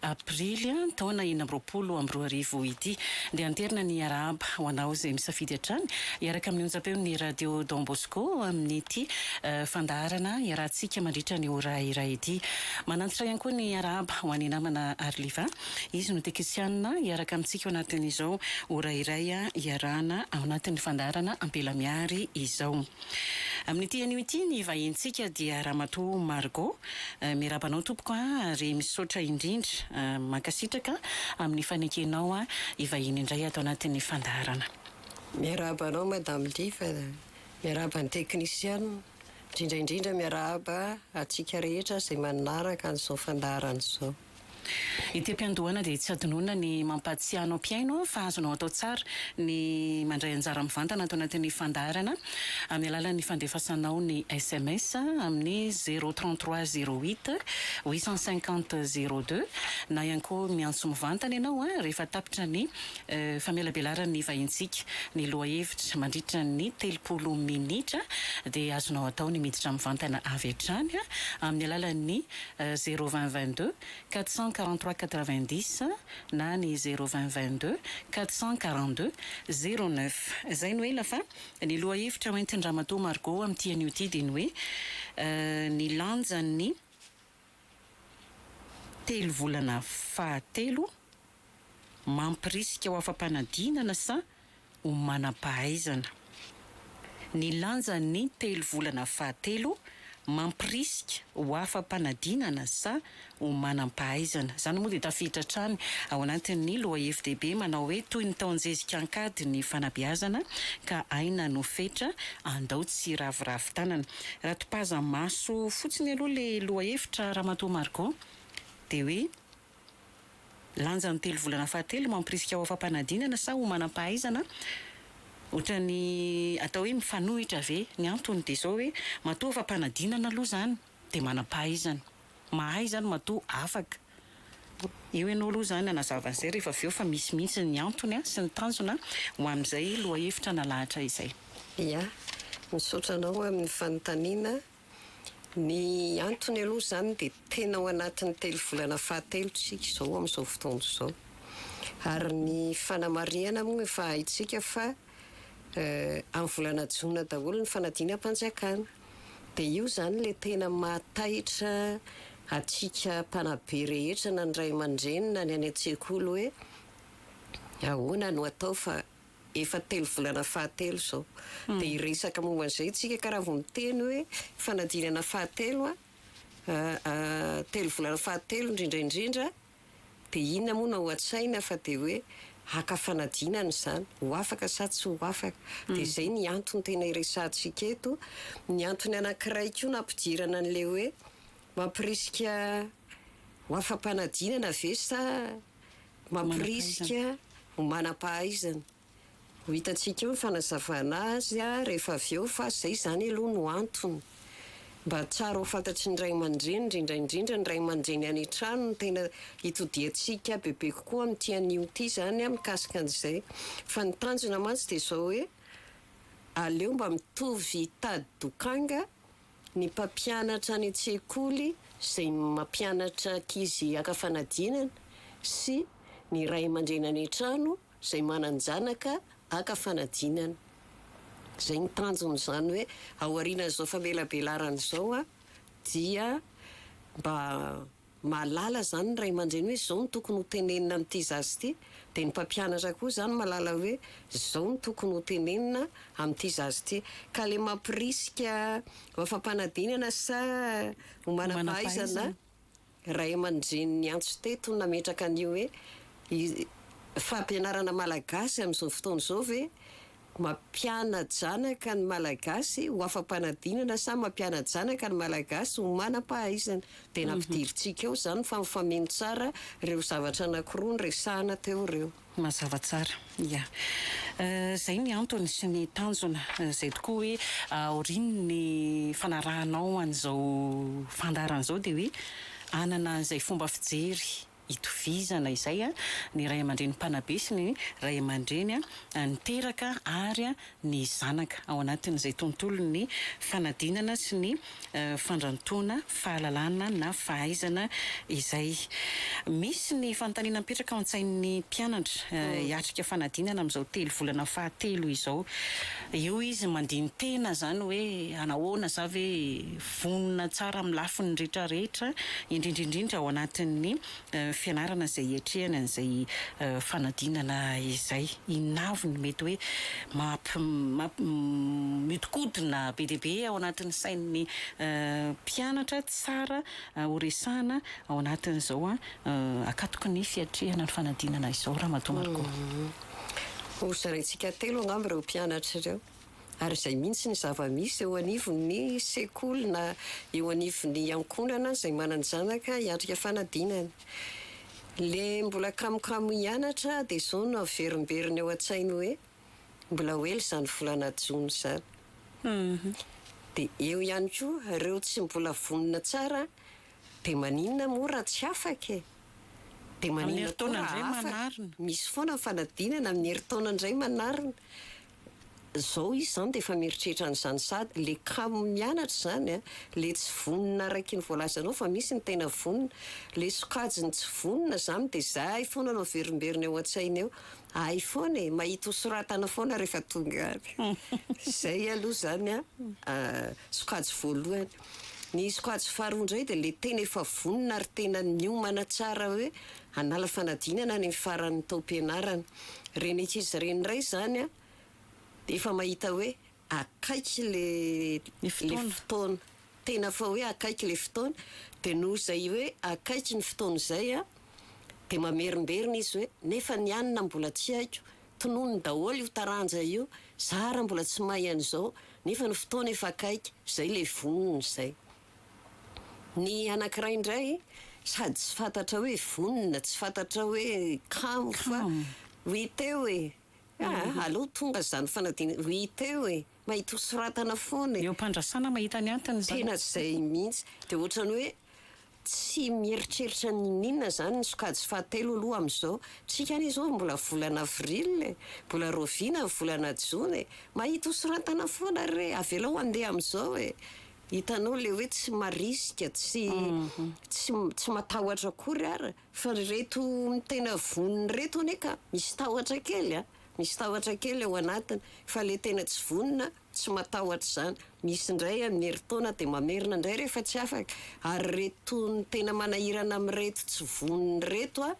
Aprily, taona enina amby roapolo amby roa arivo ity, dia hanterina ny Arahaba ho anao izay misafidy hatrany hiaraka amin'ny onjam-peon'ny Radio Don Bosco amin'ity fandaharana iarahantsika mandritra ny ora iray ity. Manantitra ihany koa ny Arahaba ho an'i namana Arliva, izy no tekisianina hiaraka amintsika ao anatin'izao ora iray iarahana ao anatin'ny fandaharana Ampela Mihary izao. Amin'ity anio ity ny vahintsika dia Ramatoa Margot. Miarahaba anao tompoko a! ary misaotra indrindra. Mankasitraka amin'ny fanekenao hivahiny indray ato anatin'ny fandaharana. Miarahaba anao Madame Liva, miarahaba ny teknisiana, indrindra indrindra miarahaba antsika rehetra izay manaraka an'izao fandaharana izao. Ity am-piandohana dia tsy hadinoina ny mampahatsiahy anao mpihaino fa azonao atao tsara ny mandray anjara mivantana ato anatin'ny fandaharana amin'ny alalan'ny fandefasanao ny sms amin'ny zéro trente trois zéro huit huit cent cinquante zéro deux na ihany koa miantso mivantana ianao rehefa tapitra ny famelabelaran'ny vahintsika ny lohahevitra mandritra ny telopolo minitra dia azonao atao ny miditra mivantana avy hatrany amin'ny alalan'ny zéro vingt vingt deux quatre cent quarante trois quatre vingt dix na ny zéro vingt vingt deux quatre cent quarante deux zéro neuf. Izay no ela fa ny lohahevitra hoentin-dRamatoa Margot amin'ity anio ity dia ny hoe ny lanjan'ny telovolana fahatelo, mampirisika ho afa-panadinana sa ho manam-pahaizana? Ny lanjan'ny telo volana fahatelo mampirisika ho afa-panadinana sa ho manam-pahaizana? Izany moa dia tafiditra hatrany ao anatin'ny lohahevi-dehibe manao hoe Toy ny taon-jezika an-kady ny fanabeazana ka aina no fetra, andao tsy hiraviravy tanana. Raha topaza-maso fotsiny aloha ilay lohahevitra, Ramatoa Margot, dia hoe. Lanja ny telo volana fahatelo mampirisika ho afa-panadinana sa ho manam-pahaizana? Ohatran'ny atao hoe mifanohitra ve? Ny antony dia izao hoe, matoa afa-panadinana aloha izany dia manam-pahaizana. Mahay izany matoa afaka. Eo ianao aloha izany hanazava an'izay rehefa avy eo fa misy mihitsy ny antony sy ny tanjona ho an'izay lohahevitra nalahatra izay. Ia. Misaotra anao amin'ny fanontaniana. Ny antony aloha izany dia tena ao anatin'ny telo volana fahatelo isika izao amin'izao fotoana izao. Ary ny fanamarihana moa efa haintsika fa amin'ny volana jona daholo ny fanadinam-panjakana. Dia io izany ilay tena mahataitra antsika mpanabe rehetra na ny ray aman-dreny na ny any an-tsekoly hoe ahoana no atao fa efa telo volana fahatelo izao dia hiresaka momba an'izay tsika ka raha vao miteny hoe fanadinana fahatelo telo volana fahatelo indrindra indrindra dia inona moa no ao an-tsaina fa dia hoe haka fanadinana izany ho afaka sa tsy ho afaka dia mm. izay ny antony tena hiresahantsika eto ny antony anankiray koa nampidirana an'ilay hoe mampirisika ho afa-panadinana ve sa Mamporisika ho manam-pahaizana. Ho hitantsika eo ny fanazavana azy rehefa avy eo fa izay izany aloha no antony. Mba tsara ho fantatry ny ray aman-dreny, indrindra indrindra ny ray aman-dreny any an-trano no tena hitodiantsika bebe kokoa amin'ity anio ity izany mikasika an'izay. Fa ny tanjona mantsy dia izao hoe aleo mba mitovy tady dokanga Ny mpampianatra any an-tsekoly izay mampianatra ankizy haka fanadinana sy ny ray aman-dreny any an-trano izay manan-janaka haka fanadinana. Izay ny tanjona izany hoe aorianan'izao famelabelaran'izao dia mba Mahalala izany ny ray aman-dreny hoe izao no tokony ho tenenina amin'ity zaza ity, dia ny mpampianatra koa izany mahalala hoe izao no tokony ho tenenina amin'ity zaza ity. Ka ilay mampirisika ho afa-panadinana sa ho manam-pahaizana ray aman-dreny niantso teto nametraka an'io hoe fampianarana malagasy amin'izao fotoana izao ve Mampiana-janaka ny Malagasy ho afa-panadinana sa mampiana-janaka ny Malagasy ho manam-pahaizana? Dia nampidirintsika eo izany fa mifameno tsara ireo zavatra anankiroa noresahana teo ireo. Mazava tsara. Ia. Izay ny antony sy ny tanjona. Izay tokoa hoe aorian'ny fanarahanao an'izao fandaharana izao dia hoe hanana an'izay fomba fijery itovizana izay ny ray aman-dreny mpanabe sy ny ray aman-dreny niteraka ary ny zanaka, ao anatin'izay tontolon'ny fanadinana sy ny fandrantoana fahalalana na fahaizana izay. Misy ny fanontaniana mipetraka ao an-tsain'ny mpianatra hiatrika fanadinana amin'izao telo volana fahatelo izao. Eo izy mandini-tena izany hoe hanahoana za ve. Vonona tsara amin'ny lafiny rehetrarehetra, indrindra indrindra ao anatin'ny fianarana izay hiatrehany an'izay fanadinana izay. Inona avy no mety hoe mampi- mihodinkodina be dia be ao anatin'ny sain'ny mpianatra tsara horesahina ao anatin'izao akatoky ny fiatrehana ny fanadinana izao, Ramatoa Margot? Hozaraintsika telo angamba ireo mpianatra ireo. ary izay mihitsy ny zava-misy eo anivon'ny sekoly na eo anivon'ny ankohonana izay manan-janaka hiatrika fanadinana. Ilay mbola kamokamo hianatra dia izao no averimberiny ao an-tsainy hoe, mbola ho ela izany volana jona izany. Dia eo ihany koa ireo tsy mbola vonona tsara, dia maninona moa raha tsy afaka e? Dia maninona koa raha afaka? Misy foana ny fanadinana amin'ny herintaona indray manarina. Zao izy zany dia efa mieritreritra an'izany sady le kamo mianatra izany an, le tsy vonona araiky ny voalazanao fa misy ny tena vonona. Le sokajiny tsy vonona izany dia izay foana no averimberina eo an-tsainy eo. Hay foana e, mahita ho soratana foana rehefa tonga any. Izay aloha izany an, sokajy voalohany. Ny sokajy faharoa indray dia le tena efa vonona ary tena niomana tsara hoe. hanala fanadinana any amin'ny faran'ny taom-pianarana. Ren'ankizy ireny indray izany dia efa mahita hoe akaiky ilay fotoana, tena efa hoe akaiky ilay fotoana, dia noho izay hoe akaiky ny fotoana izay dia mamerimberina izy hoe nefa ny anona mbola tsy haiko, tononony daholo io taranja io, za ary mbola tsy mahay an'izao, nefa ny fotoana efa akaiky, izay ilay vonona izay. Ny anankiray indray sady tsy fantatra hoe vonona, tsy fantatra hoe kamo fa oui teo e! Ah, alou tonga izany fanadinana, oui teo e! Mahita ho soratana foana e! Eo am-pandrasana mahita ny antony izany. Tena izay mihitsy. Dia ohatran'ny hoe tsy mieritreritra n'inon'inona izany ny sokajy fahatelo aloha amin'izao. Tsika anie izao mbola volana avril e! Mbola raoviana ny volana jona e! Mahita ho soratana foana re! Avelao handeha amin'izao e! Hitanao le hoe tsy marisika, tsy tsy tsy matahotra akory ary fa ry reto tena vonona reto anie ka misy tahotra kely a! Misy tahotra kely ao anatiny fa le tena tsy vonona tsy matahotra izany misy indray amin'ny herintaona dia mamerina indray rehefa tsy afaka ary reto tena manahirana amin'ireto tsy vonona ireto a!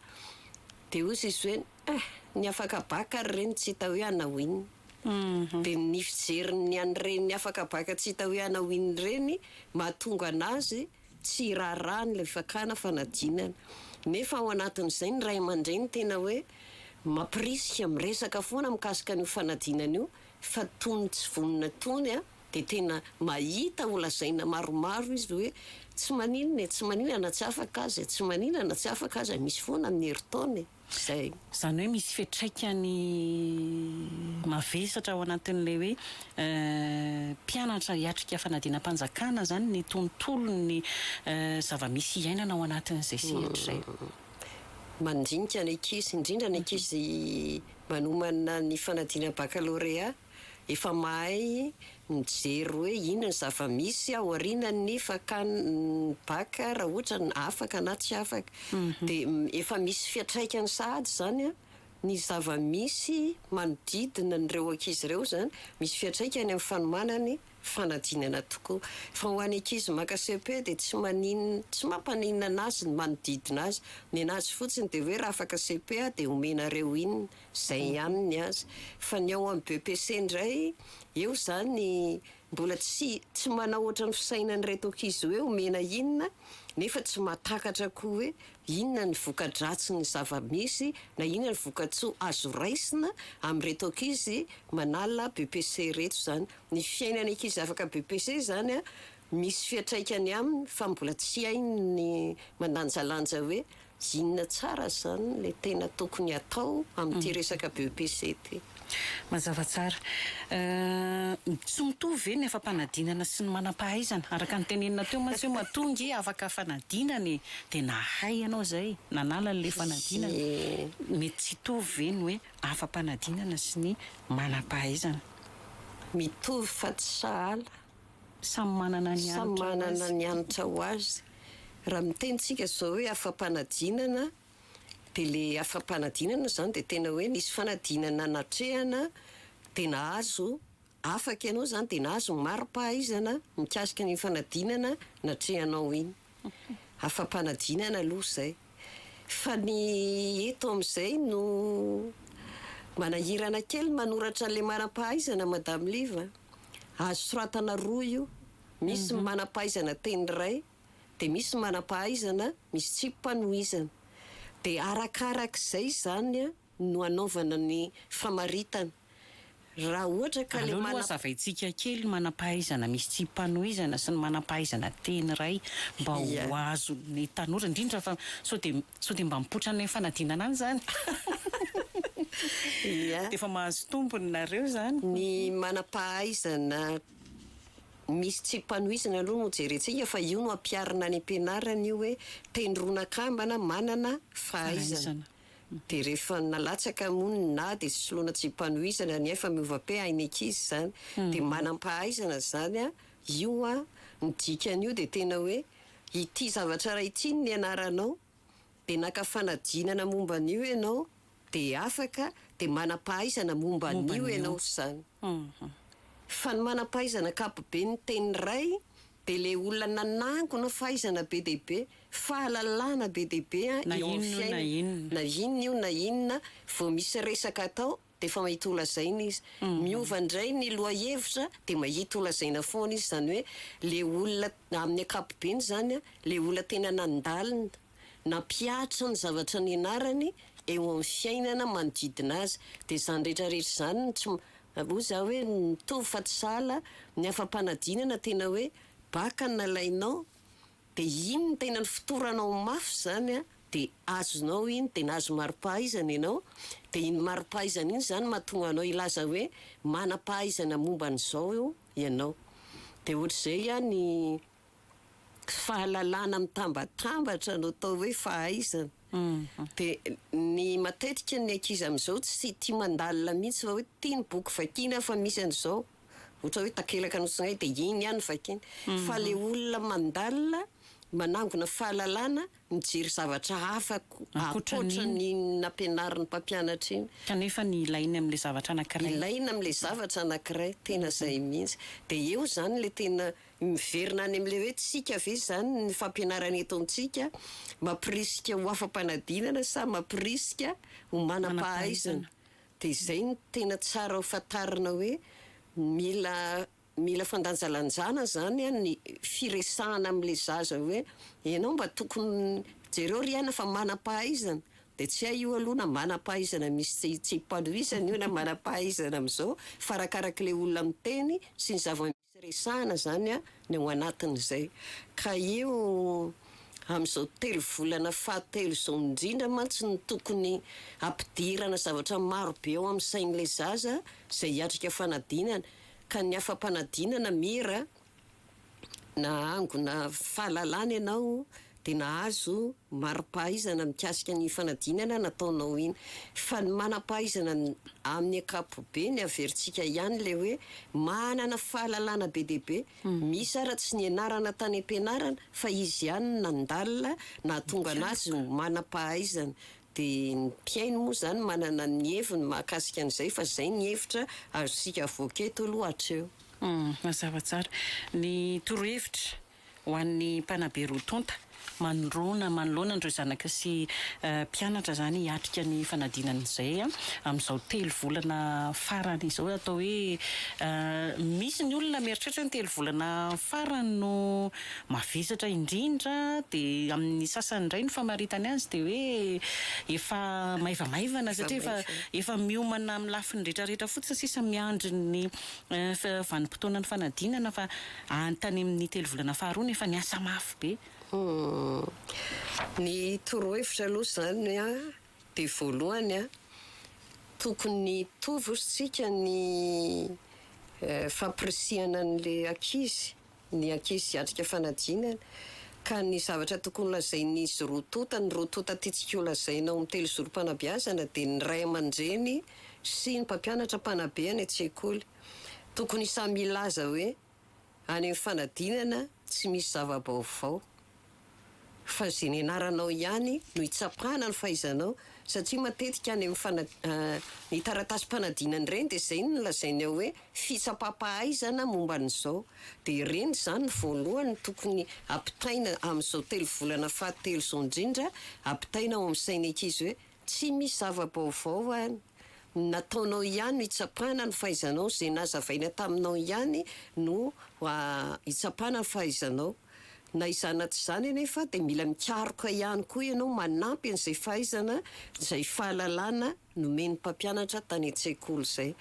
Dia hozy izy hoe. Ah! Ny afaka baka ry reny tsy hita hoe hanao inona. Dia ny fijerin'ny an'ireny afaka baka tsy hita hoe hanao inona ireny mahatonga an'azy tsy hiraharaha an'ilay fakana fanadinana. Nefa ao anatin'izay ny ray aman-dreny tena hoe mampirisika, miresaka foana mikasika an'io fanadinana io fa tony tsy vonona tony an! dia tena mahita ho lazaina maromaro izy hoe tsy maninona e, tsy maninona na tsy afaka aza e, tsy maninona na tsy afaka aza e, misy foana ny herintaona e. izay. Izany hoe misy fiatraikany mavesatra ao anatin'ilay hoe mpianatra hiatrika fanadinam-panjakana izany ny tontolon'ny zava-misy iainana ao anatin'izay sehatra izay. Mandinika ny ankizy, indrindra ny ankizy manomana ny fanadinam-bakalorea. Efa mahay mijery hoe inona ny zava-misy ao aorianan'ny fakan'ny bac raha ohatra ny afaka na tsy afaka. Dia efa misy fiantraikany sahady izany ny zava-misy manodidina an'ireo ankizy ireo izany, misy fiantraikany amin'ny fanomanany fanadinana tokoa. Fa ho an'ny ankizy maka cepe dia tsy maninona, tsy mampaninona anazy ny manodidina azy. Ny anazy fotsiny dia hoe raha afaka cepe aho dia omenareo inona. Zay ihany ny azy. Fa ny ao amin'ny BEPC indray, eo izany mbola tsy tsy manao ohatran'ny fisainan'ireto ankizy hoe omena inona nefa tsy mahatakatra koa hoe inona ny voka-dratsin'ny zava-misy na inona ny voka-tsoa azo raisina amin'ireto ankizy manala BEPC ireto izany. Ny fiainan'ny ankizy afaka BEPC izany misy fiantraikany aminy fa mbola tsy hainy ny mandanjalanja hoe Inona tsara izany ilay tena tokony hatao amin'ity resaka BEPC ity? Mazava tsara. Tsy mitovy ve ny afa-panadinana sy ny manam-pahaizana? Araka ny tenenina teo mantsy hoe matoa ange afaka fanadinana e! Dia nahay ianao izay, nanala an'ilay fanadinana. Mety tsy hitovy ve ny hoe afa-panadinana sy ny manam-pahaizana? Mitovy fa tsy sahala. Samy manana ny hanitra ho azy. Samy manana ny hanitra ho azy. Raha miteny tsika zao hoe afa-panadinana dia le afa-panadinana zany dia tena hoe nisy fanadinana natrehana dia nahazo afaka ianao zany dia nahazo ny mari-pahaizana mikasika an'iny fanadinana natrehanao iny. Afa-panadinana aloha izay. Fa ny eto amin'izay no manahirana kely manoratra an'ilay manam-pahaizana Madame Liv a! Azo soratana roa io, misy ny manam-pahaizana teny iray, dia misy ny manam-pahaizana misy tsipa nohizana. Dia arakarak'izay izany an! no anaovana ny famaritana raha ohatra ka le manam. Aleo aloha hazavaintsika kely ny manam-pahaizana misy tsipanohizana sy ny manam-pahaizana teny iray mba ho azon' ny tanora indrindra fa sao dia sao dia mba mipoitra any fanadinana any izany dia efa mahazo tombony nareo izany. Ny manam-pahaizana misy tsipanohizana aloha no jerentsika fa io no ampiharina any am-pianarana io hoe teny roa nakambana manana fahaizana. Dia rehefa nalatsaka moa ny na dia soloina tsy mpanohizana ny ahy fa miova pe hain'ny ankizy izany dia manam-pahaizana izany an, io an, ny dikan'io dia tena hoe ity zavatra iray ity no nianaranao dia naka fanadinana momba an'io ianao dia afaka dia manam-pahaizana momba an'io ianao izany. Fa ny manam-pahaizana ankapoben'ny teny iray Dia le olona nanangona fahaizana be dia be, fahalalana be dia be eo amin'ny fiainana, na inona io na inona, vao misy resaka atao dia efa mahita holazaina izy. Miova indray ny lohahevitra dia mahita holazaina foana izy. Izany hoe le olona amin'ny ankapobeny izany, le olona tena nandalina. Nampihatra ny zavatra nianarany eo amin'ny fiainana manodidina azy. Dia izany rehetra rehetra izany no tsy, hoy za hoe mitovy fa tsy sahala, ny afa-panadinana tena hoe bac no nalainao dia iny no tena nifotoranao mafy izany an, dia azonao iny dia nahazo mari-pahaizana ianao, dia iny mari-pahaizana iny izany no mahatonga anao hilaza hoe manam-pahaizana momba an'izao ianao. Dia ohatr'izay an ny. Tsy fahalalana mitambatambatra no atao hoe fahaizana. Dia ny matetika ny ankizy amin'izao tsy tia mandalina mihitsy fa hoe tia ny boky vakiana fa misy an'izao ohatra hoe takelaka nosongay dia iny ihany vakiany. Fa ilay olona mandalina manangona fahalalana mijery zavatra hafa ankoatran'iny nampianarin'ny mpampianatra iny. Kanefa ny ilainy amin'ilay zavatra anankiray. Ilaina amin'ilay zavatra anankiray, tena izay mihitsy. Dia eo izany ilay tena Miverina any amin'ilay hoe tsika ve izany ny fampianarana eto amintsika? Mampirisika ho afa-panadinana sa mampirisika ho manam-pahaizana? Dia izay no tena tsara ho fantarina hoe mila mila fandanjalanjana izany an ny firesahana amin'ilay zaza hoe ianao mba tokony jereo ry aina fa manam-pahaizana dia tsy hay io aloha na manam-pahaizana misy tsy tsy ipandohizana io na manam-pahaizana amin'izao fa arakarak'ilay olona miteny sy ny zava Tsy resahana izany ny ao anatin'izay. Ka io amin'izao telo volana fahatelo izao indrindra mantsy no tokony hampidirana zavatra maro be ao amin'ny sain'ilay zaza izay hiatrika fanadinana. Ka ny afa-panadinana mira na hangona fahalalana ianao dia nahazo mari-pahaizana mikasika ny fanadinana nataonao iny. Fa ny manam-pahaizana amin'ny ankapobeny averintsika ihany ilay hoe manana fahalalana be dia be misy ary tsy nianarana tany am-pianarana fa izy ihany no nandalina nahatonga anazy ho manam-pahaizana. Dia ny mpihaino moa izany manana ny heviny mahakasika an'izay fa izay ny hevitra azontsika avoaka eto aloha hatreo. Mazava tsara ny torohevitra. ho an'ny mpanabe roa tonta manoloana manoloana an'ireo zanaka sy mpianatra izany hiatrika ny fanadinana izay amin'izao telo volana farany izao. Atao hoe misy ny olona mieritreritra hoe ny telo volana farany no mavesatra indrindra dia amin'ny sasany indray ny famaritany azy dia hoe efa maivamaivana satria efa efa miomana amin'ny lafiny rehetrarehetra fotsiny sisa miandry ny vanim-potoanan'ny fanadinana fa any tany amin'ny telo volana faharoa nefa niasa mafy be. Humm. Ny torohevitra aloha izany dia voalohany tokony hitovy hozy tsika ny fampirisihana an'ilay ankizy, ny ankizy hiatrika fanadinana ka ny zavatra tokony ho lazain'izy roa tonta, ny roa tonta tiantsika ho lazaina ao amin'ny telozoro-panabeazana dia ny ray aman-dreny sy ny mpampianatra mpanabe any an-tsekoly. Tokony samy hilaza hoe any amin'ny fanadinana tsy misy zava-baovao fa ze nianaranao ihany no itsapana ny fahaizanao satria matetika any amin'ny ny taratasim-panadinana ireny dia izay no lazainy ao hoe fitsapam-pahaizana momba an'izao dia ireny izany no voalohany no tokony ampitaina amin'izao telo volana fahatelo izao indrindra ampitaina ao amin'ny sain'ny ankizy hoe Tsy misy zava-baovao an! Ny nataonao ihany no hitsapana ny fahaizanao, izay nazavaina taminao ihany no hitsapana ny fahaizanao. Na izany na tsy izany anefa dia mila mikaroka ihany koa ianao manampy an'izay fahaizana, izay fahalalana nomen'ny mpampianatra tany an-tsekoly izay.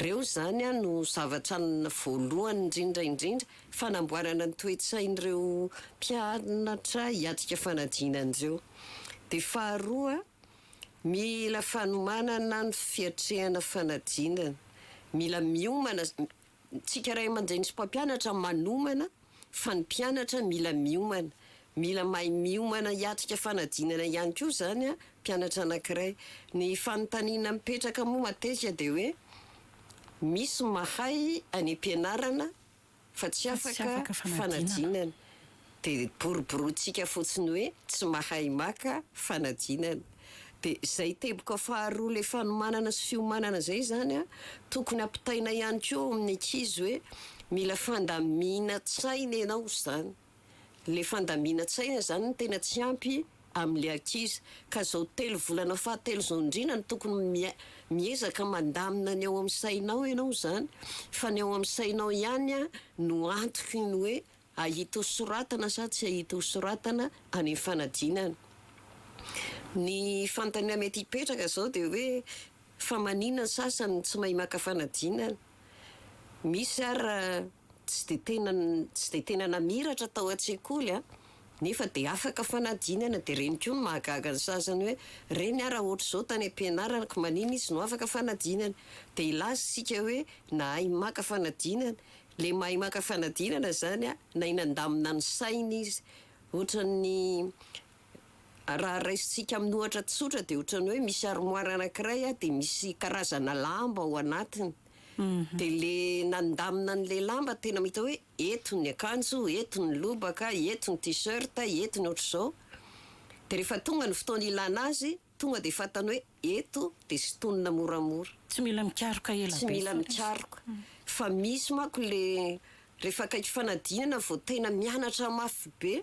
Ireo izany an no zavatra voalohany indrindra indrindra fanamboarana ny toe-tsain'ireo mpianatra hiatrika fanadinana ireo. Dia faharoa, mila fanomanana ny fiatrehana fanadinana. Mila miomana, tsika ray aman-dreny sy mpampianatra manomana fa ny mpianatra mila miomana. Mila mahay miomana hiatrika fanadinana ihany koa izany an, mpianatra anankiray. Ny fanontaniana mipetraka moa matetika dia hoe, misy mahay any am-pianarana fa tsy afaka fanadinana dia boroborointsika fotsiny hoe tsy mahay maka fanadinana dia izay teboka faharoa ilay fanomanana sy fiomanana izay zany an tokony ampitaina ihany koa ao amin'ny ankizy hoe mila fandamina tsaina ianao izany. Le fandaminantsaina zany no tena tsy ampy amle akizy ka zao telo volana fahatelo zao ndrina no tokony miai, miezaka mandamina ny ao am sainao enao zany fa ny ao am sainao ihany an no antoky ny hoe ahita ho soratana sa tsy ahita ho soratana any am fanadinana. Ny fanontania mety hipetraka zao de hoe fa manina ny sasany no tsy mahay maka fanadinana? Misy ary tsy dia tena tsy dia tena namiratra tao an-tsekoly an, nefa dia afaka fanadinana, dia ireny koa no mahagaga ny sasany hoe, reny ah raha ohatr'izao tany am-pianarana ko manina izy no afaka fanadinana? dia hilaza isika hoe nahay maka fanadinana, ilay mahay maka fanadinana izany an, nahay nandamina ny sainy izy, ohatran'ny Raha raisintsika amin'ny ohatra tsotra dia ohatran'ny hoe misy armoire anankiray dia misy karazana lamba ao anatiny. Dia ilay nandamina an'ilay lamba tena mahita hoe eto ny akanjo, eto ny lobaka, eto ny t-shirt, eto ny ohatr'izao. Dia rehefa tonga ny fotoana ilana azy, Tonga dia fantany hoe eto dia sintonina moramora. Tsy mila mikaroka ela be. Tsy mila mikaroka. Fa misy manko le rehefa akaiky fanadinana vao tena mianatra mafy be.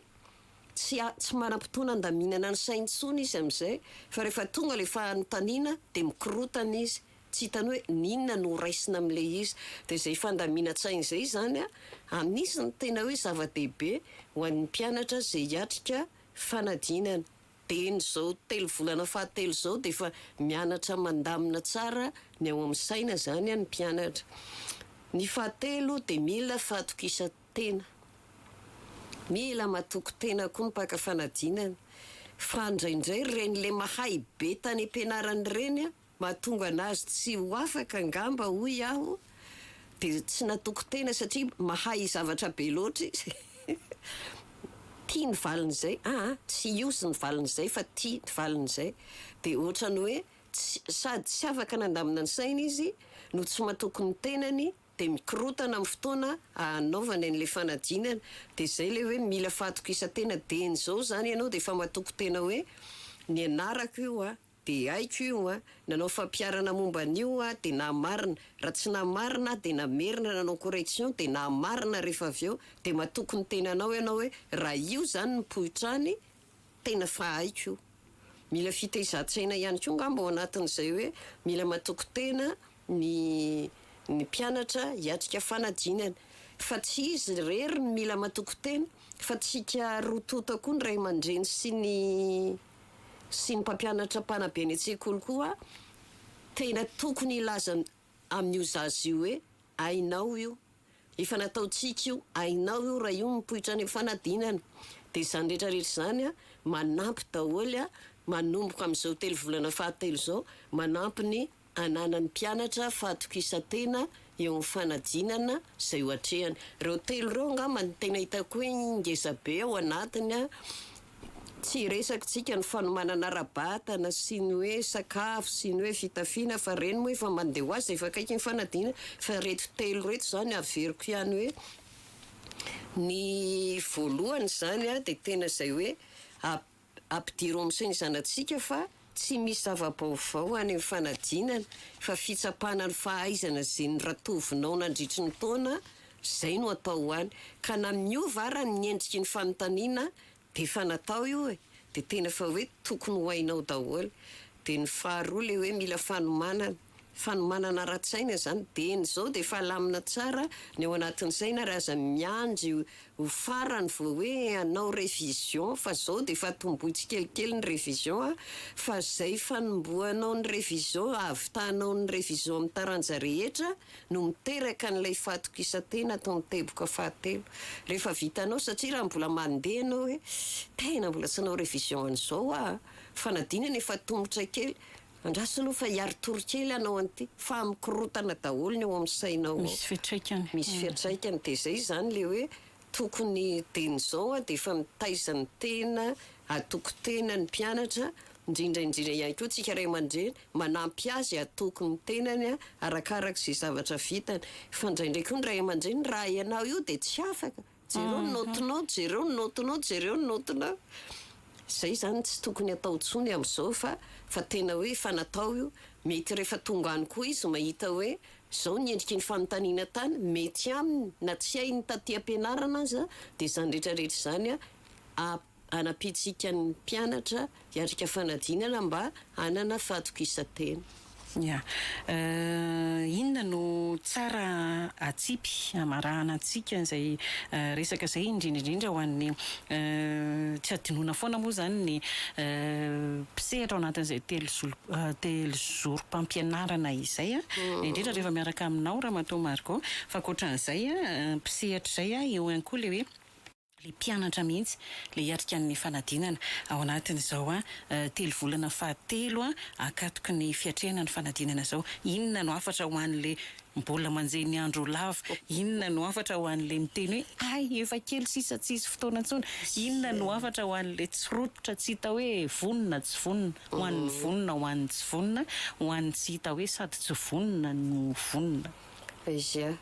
Tsy a, tsy manam-potoana handaminana ny sainy intsony izy amin'izay. Fa rehefa tonga le fanontaniana dia mikorotana izy. Tsy hitany hoe n'inona no ho raisina amin'le izy. Dia izay fandaminan-tsainy izay izany a, anisan'ny tena hoe zava-dehibe ho an'ny mpianatra izay hiatrika fanadinana. Dia ny zao telo volana fahatelo zao dia efa mianatra mandamina tsara ny ao amin'ny saina zany an ny mpianatra. Ny fahatelo dia mila fahatokisan-tena. Mila matoky tena koa ny mpaka fanadinana. Fa ndraindray reny le mahay be tany am-pianarana ireny an. Mahatonga anazy tsy ho afaka angamba hoy aho dia tsy natoko tena satria mahay zavatra be loatra izy tia ny valin'izay aa tsy use ny valin'izay fa tia ny valin'izay dia ohatrany hoe tsy sady tsy afaka nandamina ny sainy izy no tsy matoky ny tenany dia mikorotana amin'ny fotoana ahanaovany an'ilay fanadinana dia zay ilay hoe mila fahatokisan-tena dieny zao zany ianao dia efa matoky tena hoe nianarako io a De haiko io an! Nanao fampiharana momba an'io aho de nahamarina, raha tsy nahamarina aho de namerina nanao correction de nahamarina rehefa avy eo, de matoky ny tenanao ianao hoe raha io zany ny poitrany tena fa haiko io! Mila fitezan-tsaina ihany koa ngamba ao anatin'izay hoe mila matoky tena ny ny mpianatra hiatrika fanadinana fa tsy izy irery no mila matoky tena fa tsika roa tonta koa ny ray aman-dreny sy ny sy ny mpampianatra mpanabe eny an-tsekoly koa tena tokony hilaza amin'io zaza io hoe hainao io, efa nataontsika io, hainao io raha io mipoitra any amin'ny fanadinana, dia izany rehetrarehetra izany manampy daholo manomboka amin'izao telo volana fahatelo izao manampy ny Ananan'ny mpianatra fahatokisan-tena eo amin'ny fanadinana izay ho atrehany. Ireo telo ireo angamba no tena hitako hoe ngeza be ao anatiny. Tsy resakintsika ny fanomanana ara-batana sy ny hoe sakafo sy ny hoe fitafiana fa ireny moa efa mandeha ho azy dia efa akaiky ny fanadinana fa ireto telo ireto izany averiko ihany hoe ny voalohany izany dia tena izay hoe Ampidiro amin'izay ny zanatsika fa tsy misy zava-baovao any amin'ny fanadinana fa fitsapana ny fahaizana izay niratovinao nandritry ny taona izay no atao ho any ka na miova ara ny endriky ny fanontaniana dia efa natao io e! dia tena efa hoe tokony ho hainao daholo. Dia ny faharoa ilay hoe mila fanomanana. Fanomanana ara-tsaina izany dieny izao dia efa alamina tsara ny ao anatin'ny saina ary aza miandry ho farany vao hoe hanao révision fa izao dia efa tomboy tsikelikely ny révision a! fa izay fanombohanao ny révision hahavitanao ny révision amin'ny taranja rehetra no miteraka an'ilay fahatokisantena atao ny teboka fahatelo rehefa vitanao satria raha mbola mandeha ianao hoe tena mbola tsy nanao révision an'izao aho a! fanadinana efa tomotra kely Andraso aloha fa hiary tory kely hanao an'ity fa mikorotana daholo ny ao amin'ny sainao ao. Misy fiatraikany. Misy fiatraikany dia izay izany ilay hoe tokony dieny izao dia efa mitaiza ny tena, hatoky tena ny mpianatra, indrindra indrindra ihany koa tsika ray aman-dreny manampy azy hatoky ny tenany arakaraka izay zavatra vitany fa indraindray koa ny ray aman-dreny raha ianao io dia tsy afaka. Jereo ny naotinao, jereo ny naotinao, jereo ny naotinao. Izay zany tsy tokony atao intsony amin'izao fa fa tena hoe efa natao io. Mety rehefa tonga any koa izy mahita hoe izao ny endriky ny fanontaniana tany, mety aminy na tsy hainy taty am-pianarana aza dia izany rehetra rehetra izany a, Hanapintsika ny mpianatra hiatrika fanadinana mba hanana fahatokisan-tena. Ia. Inona no tsara atsipy hamarahana antsika izay resaka izay, indrindra indrindra ho an'ny, tsy hadinoina foana moa izany ny mpisehatra ao anatin'izay telozorom-pampianarana izay, indrindra rehefa miaraka aminao Ramatoa Margot, fa ankoatran'izay, mpisehatra izay, eo ihany koa ilay hoe. le mpianatra mihitsy le hiatrika ny fanadinana ao anatin izao a telo volana faha telo a akatoky ny fiatrehana ny fanadinana izao inona no hafatra ho an le mbola manjehy ny andro lava inona no hafatra ho an le miteny hoe hay efa kely sisa tsy hisy fotoana intsony inona no hafatra ho an le tsy rototra tsy hita hoe vonona tsy vonona ho an ny vonona ho an ny tsy vonona ho an ny tsy hita hoe sady tsy vonona no vonona. Izay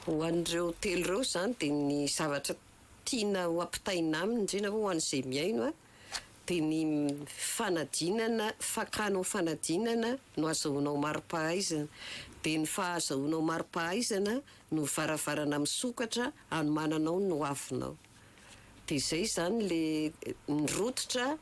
Ho an'ireo telo ireo izany dia ny zavatra tiana ho ampitaina aminy indrindra moa ho an'izay mihaino a, dia ny fanadinana, fakana ho fanadinana no azahoanao mari-pahaizana. Dia ny fahazahoanao mari-pahaizana no varavarana misokatra hanomananao ny hoavinao. Dia izay izany ilay ny rototra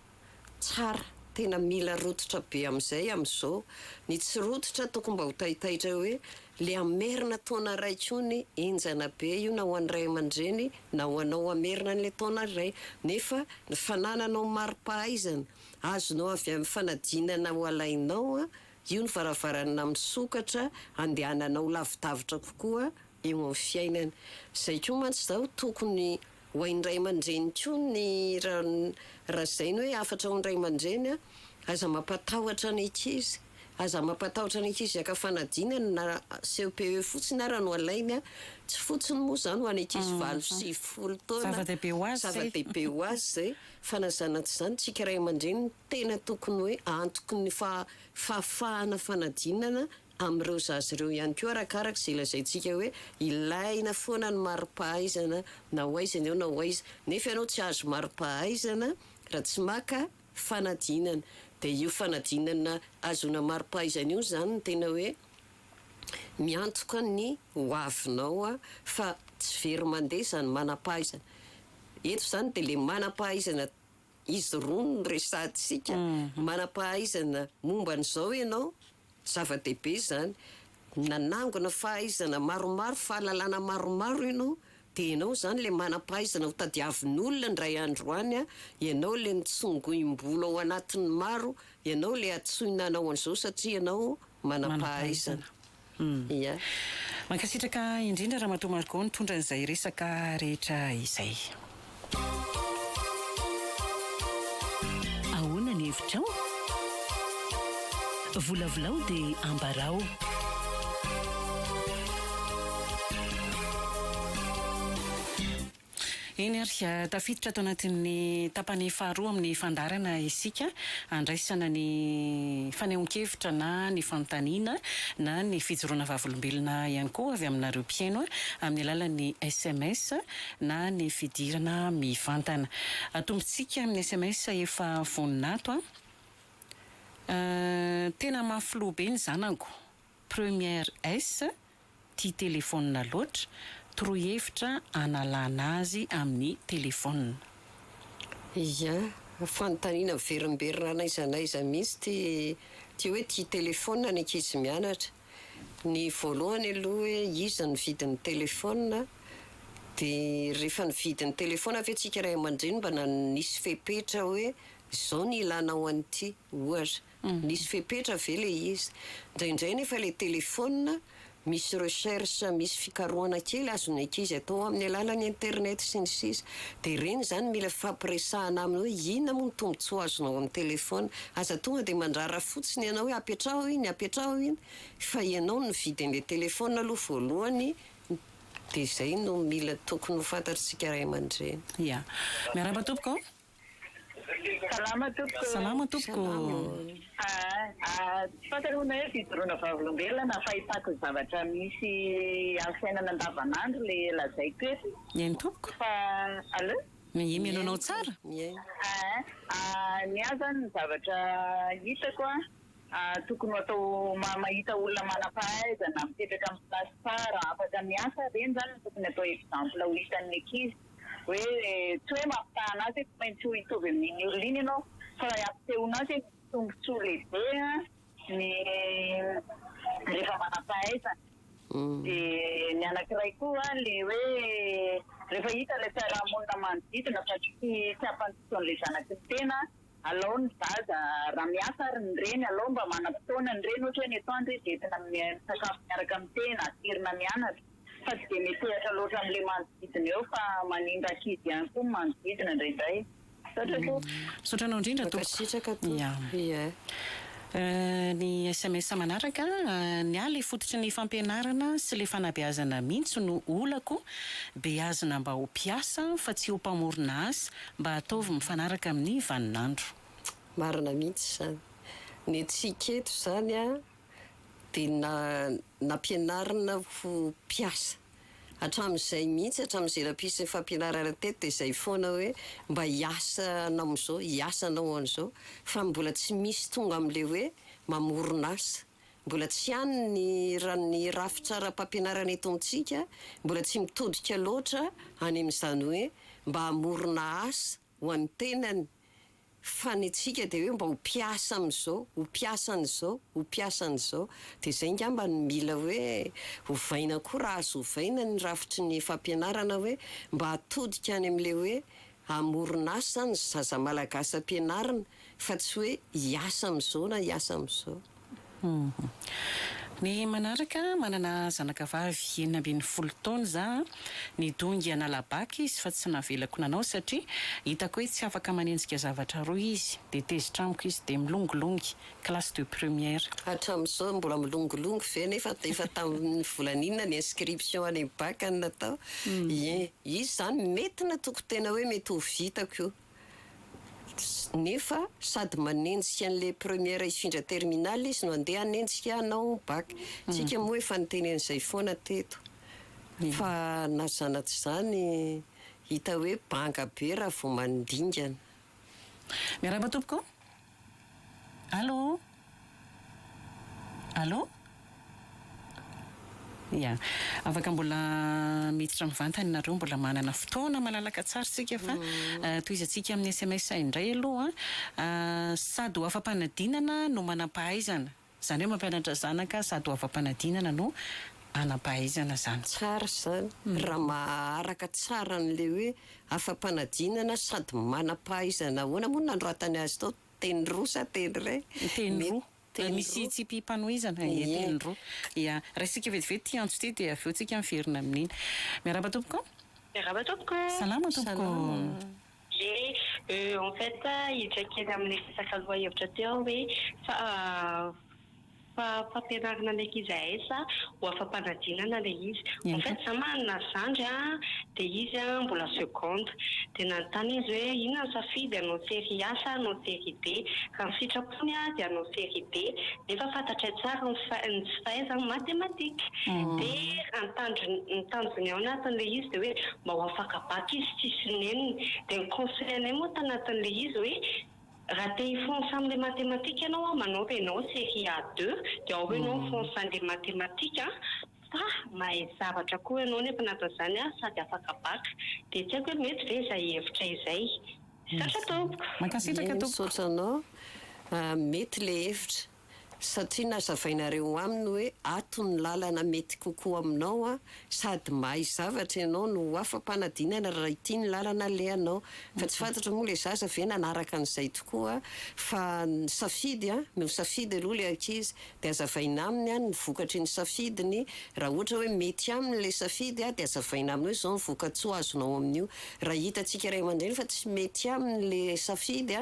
Tsara, tena mila rototra be amizay amizao, ny tsy rototra tokony mba ho taitaitra hoe le hamerina taona iray tsony, enjana be io na ho any ray amandreny na ho anao hamerina anle taona iray, nefa ny fanananao maripahaizana azonao avy aminy fanadinana ho alainao io ny varavarana misokatra andehananao lavidavitra kokoa eo aminy fiainana, zay koa mantsy zao tokony Ho hain'ny ray aman-dreny koa ny raha raha izay ny hoe hafatra ao ny ray aman-dreny a, aza mampatahotra ny ankizy, aza mampatahotra ny ankizy hiaka fanadinana na CEPE fotsiny ara no alainy a, tsy fotsiny moa izany ho an'ny ankizy valo sy sivifolo taona, zava-dehibe ho azy zay, zava-dehibe ho azy izay, fa na izany na tsy izany tsika ray aman-dreny no tena tokony hoe antoky ny faha fahafahana fanadinana amin'ireo zaza ireo ihany koa arakaraka izay lazaintsika hoe ilaina foana ny maripahaizana na ho aiza ny eo na ho aiza nefa ianao tsy ahazo maripahaizana raha tsy maka fanadinana dia io fanadinana ahazoana maripahaizana io izany no tena hoe miantoka ny ho avinao fa tsy very mandeha izany manampahaizana eto izany dia ilay manampahaizana izy roa no resahantsika manampahaizana momba an'izao ianao Zava-dehibe izany. Nanangona fahaizana maromaro, fahalalana maromaro ianao. Dia ianao izany ilay manam-pahaizana ho tadiavin'olona indray andro any an! Ianao ilay nitsongoim-bolo ao anatin'ny maro, ianao ilay antsoina hanao an'izao satria ianao manam-pahaizana. Ia. Mankasitraka indrindra Ramatoa Margot nitondra an'izay resaka rehetra izay. Ahoana ny hevitrao? Volavolao dia ambarao. Eny ary, tafiditra ato anatin'ny tapany faharoa amin'ny fandaharana isika, handraisana ny fanehoan-kevitra na ny fanontaniana na ny fijoroana vavolombelona ihany koa avy aminareo mpihaino amin'ny alalan'ny sms, na ny fidirana mivantana. Atombontsika amin'ny sms efa vonona ato a. Euh tena mafy loha be ny zanako première S tia téléphone loatra, torohevitra analana azy amin'ny téléphone. Ia, fanontaniana miverimberina n'aiza n'aiza mihitsy ity hoe tia téléphone ny ankizy mianatra. Ny voalohany aloha hoe iza nividy ny telephone dia rehefa nividy ny telephone ve tsika ray aman-dreny mba nisy fepetra hoe izao ny ilana ho an'ity ohatra nisy fepetra ve ilay izy indraindray nefa ilay telephone misy recherche misy fikarohana kely azon'ny ankizy atao amin'ny alalan'ny internet sy ny sisa dia ireny izany mila hifampiresahana aminy hoe inona moa ny tombotsoa azonao amin'ny telephone Aza tonga dia mandrara fotsiny ianao hoe apetraho iny, apetraho iny, fa ianao no nividy an'ilay telefaonina aloha voalohany, dia izay no mila tokony ho fantatr'isika ray aman-dreny. Ia. Miarahaba tompoko ô. Salama tompoko. Salama tompoko. Salama ô. Tsy fantanao na hoe fijoroana vavolombelona na fahitako ny zavatra misy amin'ny fiainana andavanandro ilay lazaiko eto. Eny tompoko. Fa allo. Mihaino anao tsara. Ahh ny ahy zany ny zavatra hitako a tokony ho atao mahita olona manampahaizana mipetraka amin'ny place tsara afaka miasa reny zany no tokony atao exemple ho hitan'ny ankizy hoe tsy hoe mampitaha anazy hoe tsy maintsy ho hitovy amin'iny olona iny ianao fa ampisehoanao hoe misy tombotsoa lehibe a Ny rehefa manam-pahaizana. Dia ny anankiray koa ilay hoe rehefa hita ilay fiarahamonina manodidina fa tsy ampy fotoan'ilay zanaky ny tena, alao ny zaza raha miasa ary ny reny alao mba manam-potoana ny reny ohatra hoe ny atoandro izy entina misakafo miaraka amin'ny tena, aterina mianatra. Fa tsy dia metehatra loatra amin'ilay manodidina eo fa manimba ankizy ihany koa ny manodidina indraindray. Misaotra tompoko. Misaotra anao indrindra tompoko. Mankasitraka tompoko yeah. Ny sms manaraka, Ny ahy le fototry ny fampianarana sy le fanabeazana mintsy no olako, beazina mba ho mpiasa fa tsy ho mpamorona asa, mba ataovy mifanaraka amin'ny vaninandro. Marina mihitsy izany. Ny antsika eto izany dia nampianarina ho mpiasa. Hatramin'izay mihitsy, hatramin'izay nampisy ny fampianarana teto dia izay foana hoe mba hiasa hanao an'izao, hiasa hanao an'izao. Fa mbola tsy misy tonga amin'ilay hoe mamorona asa. Mbola tsy any ny ra- ny rafitra ara-pampianarana eto amintsika, mbola tsy mitodika loatra any amin'izany hoe mba hamorona asa, ho an'ny tenany fa ny antsika dia hoe mba ho mpiasa amin'izao, ho mpiasa an'izao, ho mpiasa an'izao. Dia izay angamba no mila hoe ovaina koa raha azo ovaina ny rafitry ny fampianarana hoe mba atodika any amin'ilay hoe hamoron'asa ny zaza malagasy ampianarina fa tsy hoe hiasa amin'izao na hiasa amin'izao. Ny manaraka, manana zanakavavy enina ambin'ny folo taona za a, nidongy an'Alabac izy fa tsy navelako nanao satria hitako hoe tsy afaka manenjika zavatra roa izy, dia tezitra amiko izy dia milongilongy, classe de première. Hatramin'izao mbola milongilongy ve nefa efa tamin'ny volana inona ny inscription any bac no natao? Hien, izy izany mety na tokotena hoe mety ho vitako io. nefa sady manenjika an'ilay première hifindra terminale izy no andeha hanenjika hanao bac, tsika moa efa niteny an'izay foana teto fa na zana tsy zany hita hoe banga be raha vao mandingana. Miarahaba tompoko. Allô? Allô? Ia. Afaka mbola miditra mivantana ianareo, mbola manana fotoana malalaka tsara isika fa tohizantsika amin'ny sms indray aloha. Sady ho afa-panadinana no manam-pahaizana. Zany hoe mampianatra zanaka sady ho afa-panadinana no hanam-pahaizana zany. Tsara izany raha maharaka tsara an'ilay hoe afa-panadinana sady manam-pahaizana ahoana moa nanoratany azy tao? Teny roa sa teny iray? Teny roa. Misy tsipim-panohizana e, teny roa. Ia. Raisintsika vetivety ity antso ity dia avy eo tsika miverina amin'iny. Miarahaba tompoko. Miarahaba tompoko. Salama tompoko. Salama. Ie, euh, en fait hiditra kely amin'ilay resaka lohahevitra teo aho hoe fa fa fampianarana ny ankizy hahay sa ho afa-panadinana ilay izy. En fait izaho manana zandry a, dia izy a mbola seconde, dia nanontany izy hoe inona ny safidy hanao série A sa hanao série B, raha ny sitrapony. intsony aho dia hanao série B nefa fantatray tsara ny ny tsy fahaizany mathématique de ny tanjony ny tanjony ao anatin'ilay izy de hoe mba ho afaka bac izy sy sisiny neniny de ny conseil anay moa tanatin'ilay izy hoe raha te hifonsa amin'ilay mathématique ianao a manaova ianao série A deux de ao ianao mifonsa an'ilay mathématique fa mahay zavatra koa ianao nefa na de zany ary sady afaka bac de tsy haiko hoe mety ve zay hevitra izay. Misaotra tompoko. Mankasitraka tompoko. Misaotra anao. Mety le hevitra satria nazavainareo aminy hoe ato ny lalana mety kokoa aminao an! Sady mahay zavatra ianao no ho afa-panadinana raha ity ny lalana alehanao. Fa tsy fantatra moa le zaza ve nanaraka an'izay tokoa fa ny safidy an! Misafidy aloha le ankizy dia azavaina aminy any ny vokatry ny safidiny, raha ohatra hoe mety aminy ilay safidy dia azavaina aminy hoe izao ny vokatsoa azonao amin'io, raha hitantsika ray aman-dreny fa tsy mety aminy ilay safidy,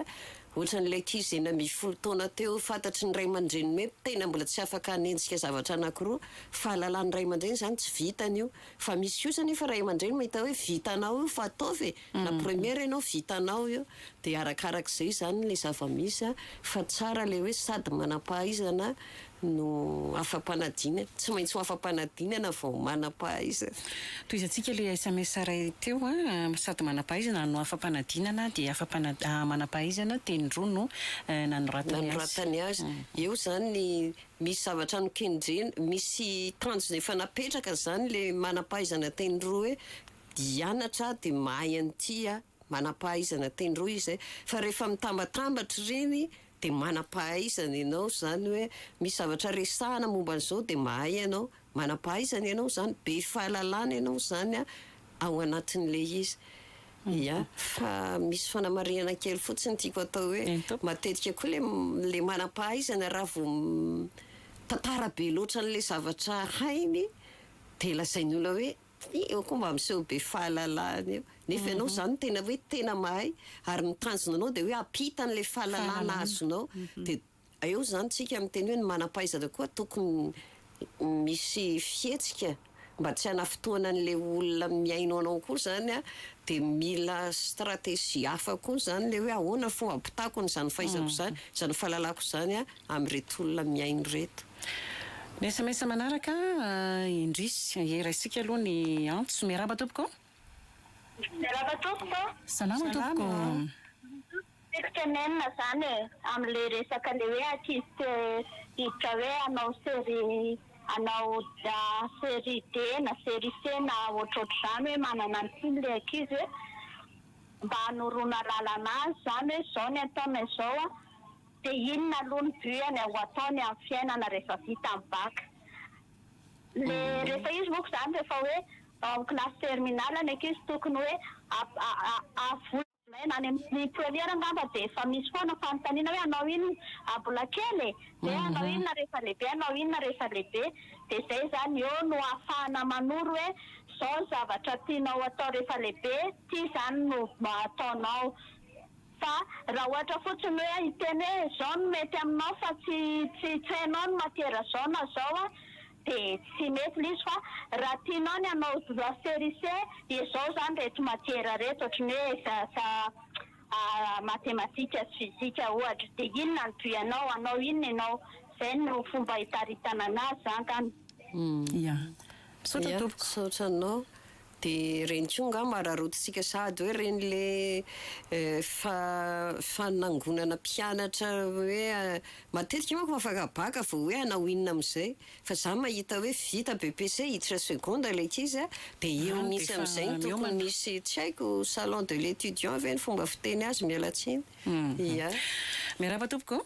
ohatran'ilay ankizy enina ambin'ny folo taona teo fantatry ny ray aman-dreniny hoe tena mbola tsy afaka hanenjika zavatra anankiroa, fahalalan'ny ray aman-dreny izany tsy vitany io, fa misy kosa anefa ray aman-dreny mahita hoe vitanao io fa ataovy e! La première ianao vitanao io dia arakarak'izay izany ilay zava-misy fa tsara ilay hoe sady manam-pahaizana no afa-panadinana. Tsy maintsy ho afa-panadinana vao manam-pahaizana. Tohizantsika ilay SMS iray teo a, sady manam-pahaizana no afa-panadinana dia afa-panad- manam-pahaizana teny roa no nanoratany azy. Nanoratany azy. Eo izany ny misy zavatra nokendrena, misy tanjona efa napetraka izany ilay manam-pahaizana teny roa hoe hianatra dia mahay an'ity a! manam-pahaizana teny roa izy zay fa rehefa mitambatambatra ireny dia manam-pahaizana ianao izany hoe misy zavatra resahana momba an'izao dia mahay ianao, manam-pahaizana ianao izany, be fahalalana ianao izany a! ao anatin'ilay izy ya! fa misy fanamarihana kely fotsiny tiako atao hoe matetika koa ilay ilay manam-pahaizana raha vao mitantara be loatra an'ilay zavatra hainy dia lazain'ny olona hoe Io koa mba miseho be fahalalahana io. Nefa ianao izany tena hoe tena mahay ary ny tanjona anao dia hoe hampita an'ilay fahalalahana azonao. Dia eo izany isika miteny hoe ny manam-pahaizana koa tokony misy fihetsika mba tsy hanafintohina an'ilay olona mihaino anao koa izany an, dia mila stratégie hafa koa izany ilay hoe ahoana fomba hampitako an'izany fahaizako izany, izany fahalalako izany an, amin'ireto olona mihaino ireto. Ny sms manaraka indry. Ye raisika aloha ny antso. Miarahaba tompoko a. Miarahaba tompoko a. Salama tompoko. Tiako tenenina zany e, amle resaka le hoe artiste diditra hoe hanao série hanao série D na série C na ohatrohatr'izany hoe manana ny tiany le ankizy hoe mba hanoroana lalana azy zany hoe zao ny ataonay zao a. De inona aloha ny but any ho ataony amin'ny fiainana rehefa vita ny bac? Le rehefa izy moko zany rehefa hoe ao amin'ny classe terminale ny ankizy tokony hoe avola any amin'ny première angamba de efa misy foana fanontaniana hoe hanao inona mbola kely e! de hanao inona rehefa lehibe hanao inona rehefa lehibe de zay zany eo no ahafahana manoro hoe zao ny zavatra tianao atao rehefa lehibe ty zany no ataonao. Fa raha ohatra fotsiny hoe hiteny hoe izao no mety aminao fa tsy tsy tsy hainao ny matiera izao na izao a de tsy mety ilay izy fa raha tianao ny hanao droit sericé dia izao izany ireto matiera ireto ohatran'ny hoe ss a matematika sy fizika ohatra dia inona no but anao hanao inona ianao izay no fomba hitaritana anazy izany angamba. Ia. Misaotra tompoko. Ia misaotra anao. De reny koa nga mararotitsika sahady hoe reny le fa fanangonana mpianatra hoe matetika manko afaka baka vao hoe hanao inona amizay fa za mahita hoe vita BEPC hiditra seconde le ankizy a de eo mihitsy amizay no tokony misy tsy haiko salon de l'etudiant ve ny fomba fiteny azy mialatsiny ya. Miarahaba tompoko.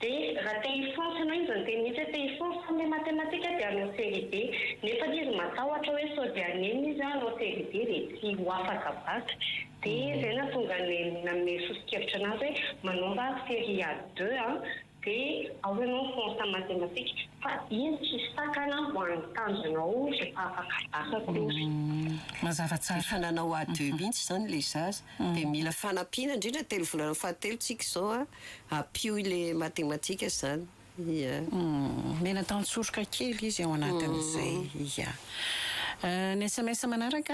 Dia raha te hifoha ianao izy niteny mihitsy hoe te hifoha fa ny matematika dia hanao série be nefa ilay izy matahotra hoe sao dia hanenina izy hanao série be dia tsy ho afaka bac dia izay nahatonga ny nanome soso-kevitra anazy hoe manaova série a deux an dia ao ianao mifonsa matematika fa iny tsisy takana ho an'ny tanjonao rehefa afaka bac kosa. Mazava tsara. Efa nanao a deux mihitsy izany ilay zaza. Dia mila fanampiana indrindra telo volana fahatelo tsika izao an! Ampio ilay matematika izany. Iyaa. Mila tantsoroka kely izy ao anatin'izay. Iyaa. Ny sms manaraka,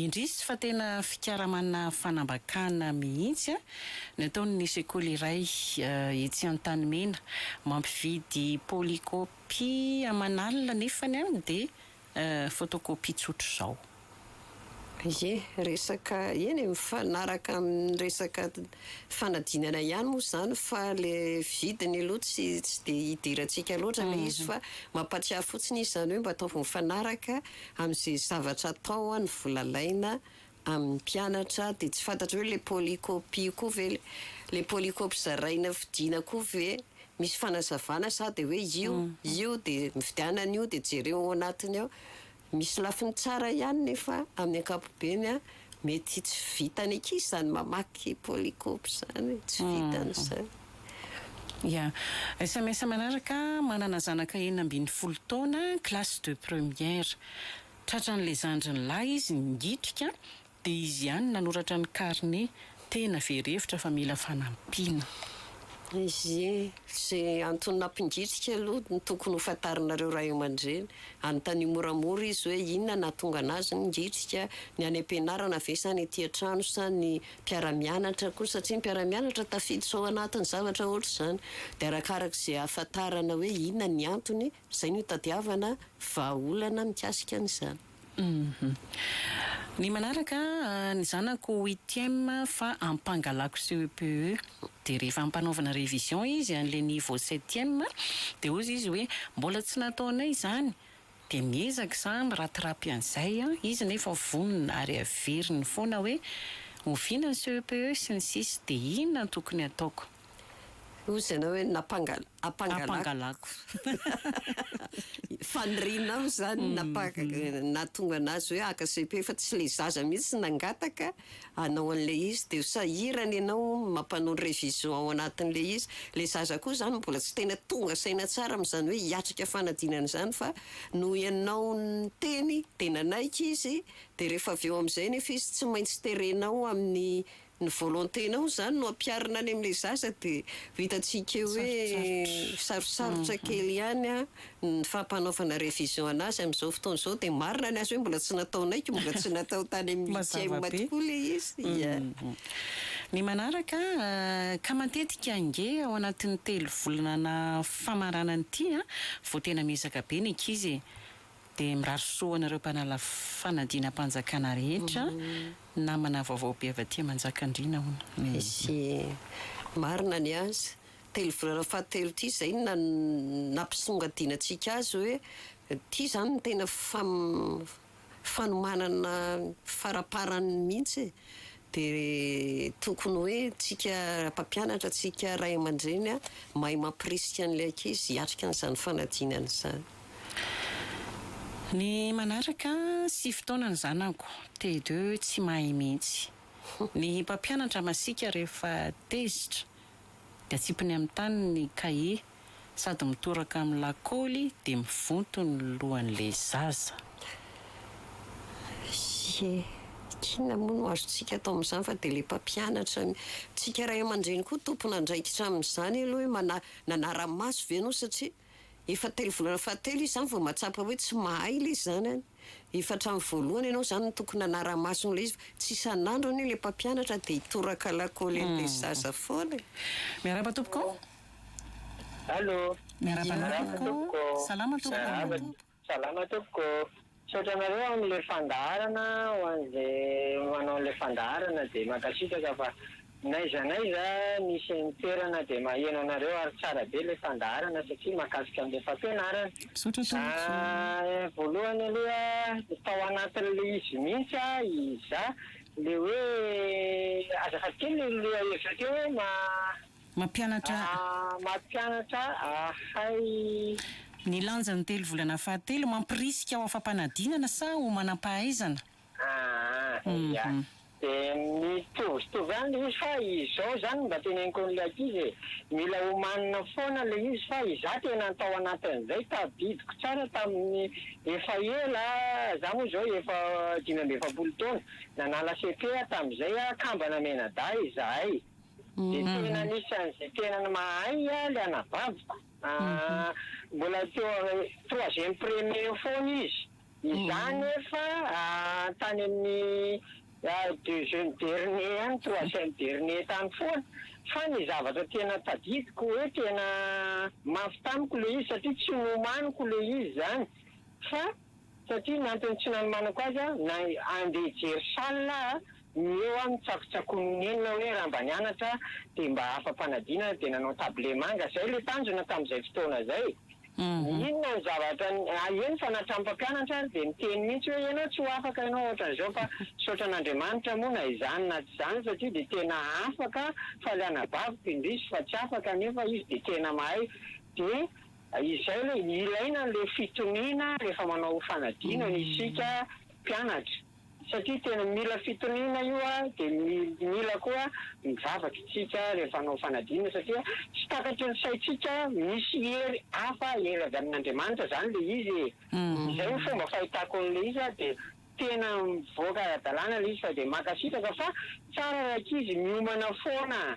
Indrisy fa tena fikaramanà fanambakàna mihitsy an! Ny ataon'ny sekoly iray etsy Antanimena, mampividy polycopie aman'alina nefany an dia Photocopie tsotra izao. Ie, resaka, eny e, mifanaraka amin'ny resaka fanadinana ihany moa izany fa le vidiny aloha tsy tsy dia idirantsika loatra le izy fa mampatsiahy fotsiny izy izany hoe mba ataovy mifanaraka amin'izay zavatra atao ny vola alaina amin'ny mpianatra dia tsy fantatra hoe le polycopie koa ve le polycopie zaraina fidina koa ve misy fanazavana sa dia hoe io io dia mividianana io dia jereo ao anatiny ao misy lafiny tsara ihany nefa amin'ny ankapobeny an mety tsy vitan'ny ankizy izany mamaky polycopie izany tsy vitan'izany. Ya. Sms manaraka, Manana zanaka enina ambin'ny folo taona, classe de première. Tratran'ilay zandriny lahy izy nigitrika dia izy ihany nanoratra ny carnet, tena very hevitra fa mila fanampiana. Ie, ze antony nampigitrika aloha no tokony ho fantarinareo ray aman-dreny. Anontanio moramora izy hoe inona nahatonga anazy nigitrika, ny any am-pianarana ve sa ny ety an-trano sa ny mpiara-mianatra koa satria ny mpiara-mianatra tafiditra ao anatin'ny zavatra ohatr'izany. Dia arakaraka izay ahafantarana hoe inona ny antony, Izay no itadiavana vahaolana mikasika an'izany. Ny manaraka, ny zanako huitième fa ampangalako CEPE dia rehefa ampanaovana révision izy an'ilay niveau septième dia hozy izy hoe mbola tsy nataonay izany dia miezaka za miratirapy an'izay an, izy nefa vonona ary averiny foana hoe oviana ny CEPE sy ny sisa dia inona no tokony ataoko? Hozy ianao hoe nampangal. Ampangalako. Faniriana aho izany nahatonga an'azy hoe haka cepe fa tsy ilay zaza mihitsy nangataka hanao an'ilay izy dia sahirana ianao mampanao révision ao anatin'ilay izy. Ilay zaza koa izany mbola tsy tena tonga saina tsara amin'izany hoe hiatrika fanadinana izany fa noho ianao niteny dia nanaiky izy dia rehefa avy eo amin'izay anefa izy tsy maintsy terenao amin'ny Ny volonté nao izany no ampiharina any amin'ilay zaza dia vitantsika eo hoe sarosarotra kely ihany an, ny fampanaovana révision an'azy amin'izao fotoana izao dia marina ny azy hoe mbola tsy nataonaiky, mbola tsy natao tany amin'ny huitième tokoa ilay izy ya. Ny manaraka, ka matetika ange ao anatin'ny telo volana famaranana ity vao tena miezaka be ny ankizy e. Dia mirary soa ho anareo mpanala fanadinam-panjakana rehetra, namana vaovao be avy aty Manjakandriana hono. Misy marina ny azy. Telo volana fahatelo ity izay no na- nampisongadinantsika azy hoe ity izany no tena fam- fanomanana faraparany mihitsy e. Dia tokony hoe tsika mpampianatra, tsika ray aman-dreny mahay mampirisika an'ilay ankizy hiatrika an'izany fanadinana izany. Ny manaraka, sivy taona ny zanako, TD, tsy mahay mihitsy. Ny mpampianatra masiaka rehefa tezitra dia atsipiny amin'ny tany ny kahie. sady mitoraka amin'ny lakaoly dia mivonto ny lohan'ilay zaza. Ie, inona moa no azontsika atao amin'izany fa dia ilay mpampianatra ny tsika ray aman-dreny koa tompon'andraikitra amin'izany aloha hoe mana, nanara-maso ve ianao satria efa telo volana fahatelo izy izany vao mahatsapa hoe tsy mahay ilay zanany, efa hatramin'ny voalohany ianao izany no tokony nanara-maso an'ilay izy fa tsy isan'andro anie ilay mpampianatra dia hitoraka lakaoly an'ilay zaza foana e! Miarahaba tompoko, Allo. Miarahaba anao tompoko. Salama tompoko. Salama tompoko. Misaotra anareo amin'ilay fandaharana ho an'izay manao an'ilay fandaharana dia mankasitraka fa n'aiza n'aiza misy ny toerana dia maheno anareo ary tsara be ilay fandaharana satria mahakasika an'ilay fampianarana. Misaotra tompoko. Voalohany aloha tao anatin'ilay izy mihitsy aho izaho ilay hoe azafady kely ilay lohahevitra teo hoe ma Mampianatra. Mampianatra ahay. Ny lanjan'ny telo volana fahatelo, mampirisika ho afa-panadinana sa ho manam-pahaizana? Aa ia. Dia mitovitovy ihany ilay izy fa izao izany mba teneniko an'ilay ankizy e, mila homanina foana ilay izy fa izaho tena tao anatin'izay, tadidiko tsara tamin'ny efa ela, izaho moa izao efa dimy amby efapolo taona, nanala cepe aho tamin'izay, kambana mianadahy izahay. Dia tena anisan'izay tena mahay ilay anabaviko. Mbola teo amin'ny troisième premier eo foana izy. Izaho anefa tany amin'ny deuxième dernier any, troisième dernier tany foana. Fa ny zavatra tena tadidiko hoe tena mafy tamiko ilay izy satria tsy nomaniko ilay izy izany fa. Satria ny antony tsy nanomanako azy a, na andeha hijery salle a, ny eo a mitsakotsakon'ny nenina hoe raha mba nianatra dia mba afa-panadinana dia nanao tablé manga, izay ilay tanjona tamin'izay fotoana izay. Ny inona ny zavatra, ah eny fa na hatramin'ny mpampianatra ary dia miteny mihitsy hoe ianao tsy ho afaka ianao ohatran'izao fa misaotra an'Andriamanitra moa na izany na tsy izany satria dia tena afaka, faly anabaviko indrisy fa tsy afaka nefa izy dia tena mahay dia Izay ilay ilaina ilay fitoniana rehefa manao fanadinana isika mpianatra satria tena mila fitoniana io dia mila koa ny vavakintsika rehefa hanao fanadinana satria tsy takatry ny saintsika misy hery hafa hery avy amin'Andriamanitra izany ilay izy e! izay no fomba fahitako an'ilay izy a! dia tena mivoaka ara-dalàna ilay izy fa dia mankasitraka fa tsara rankizy miomana foana.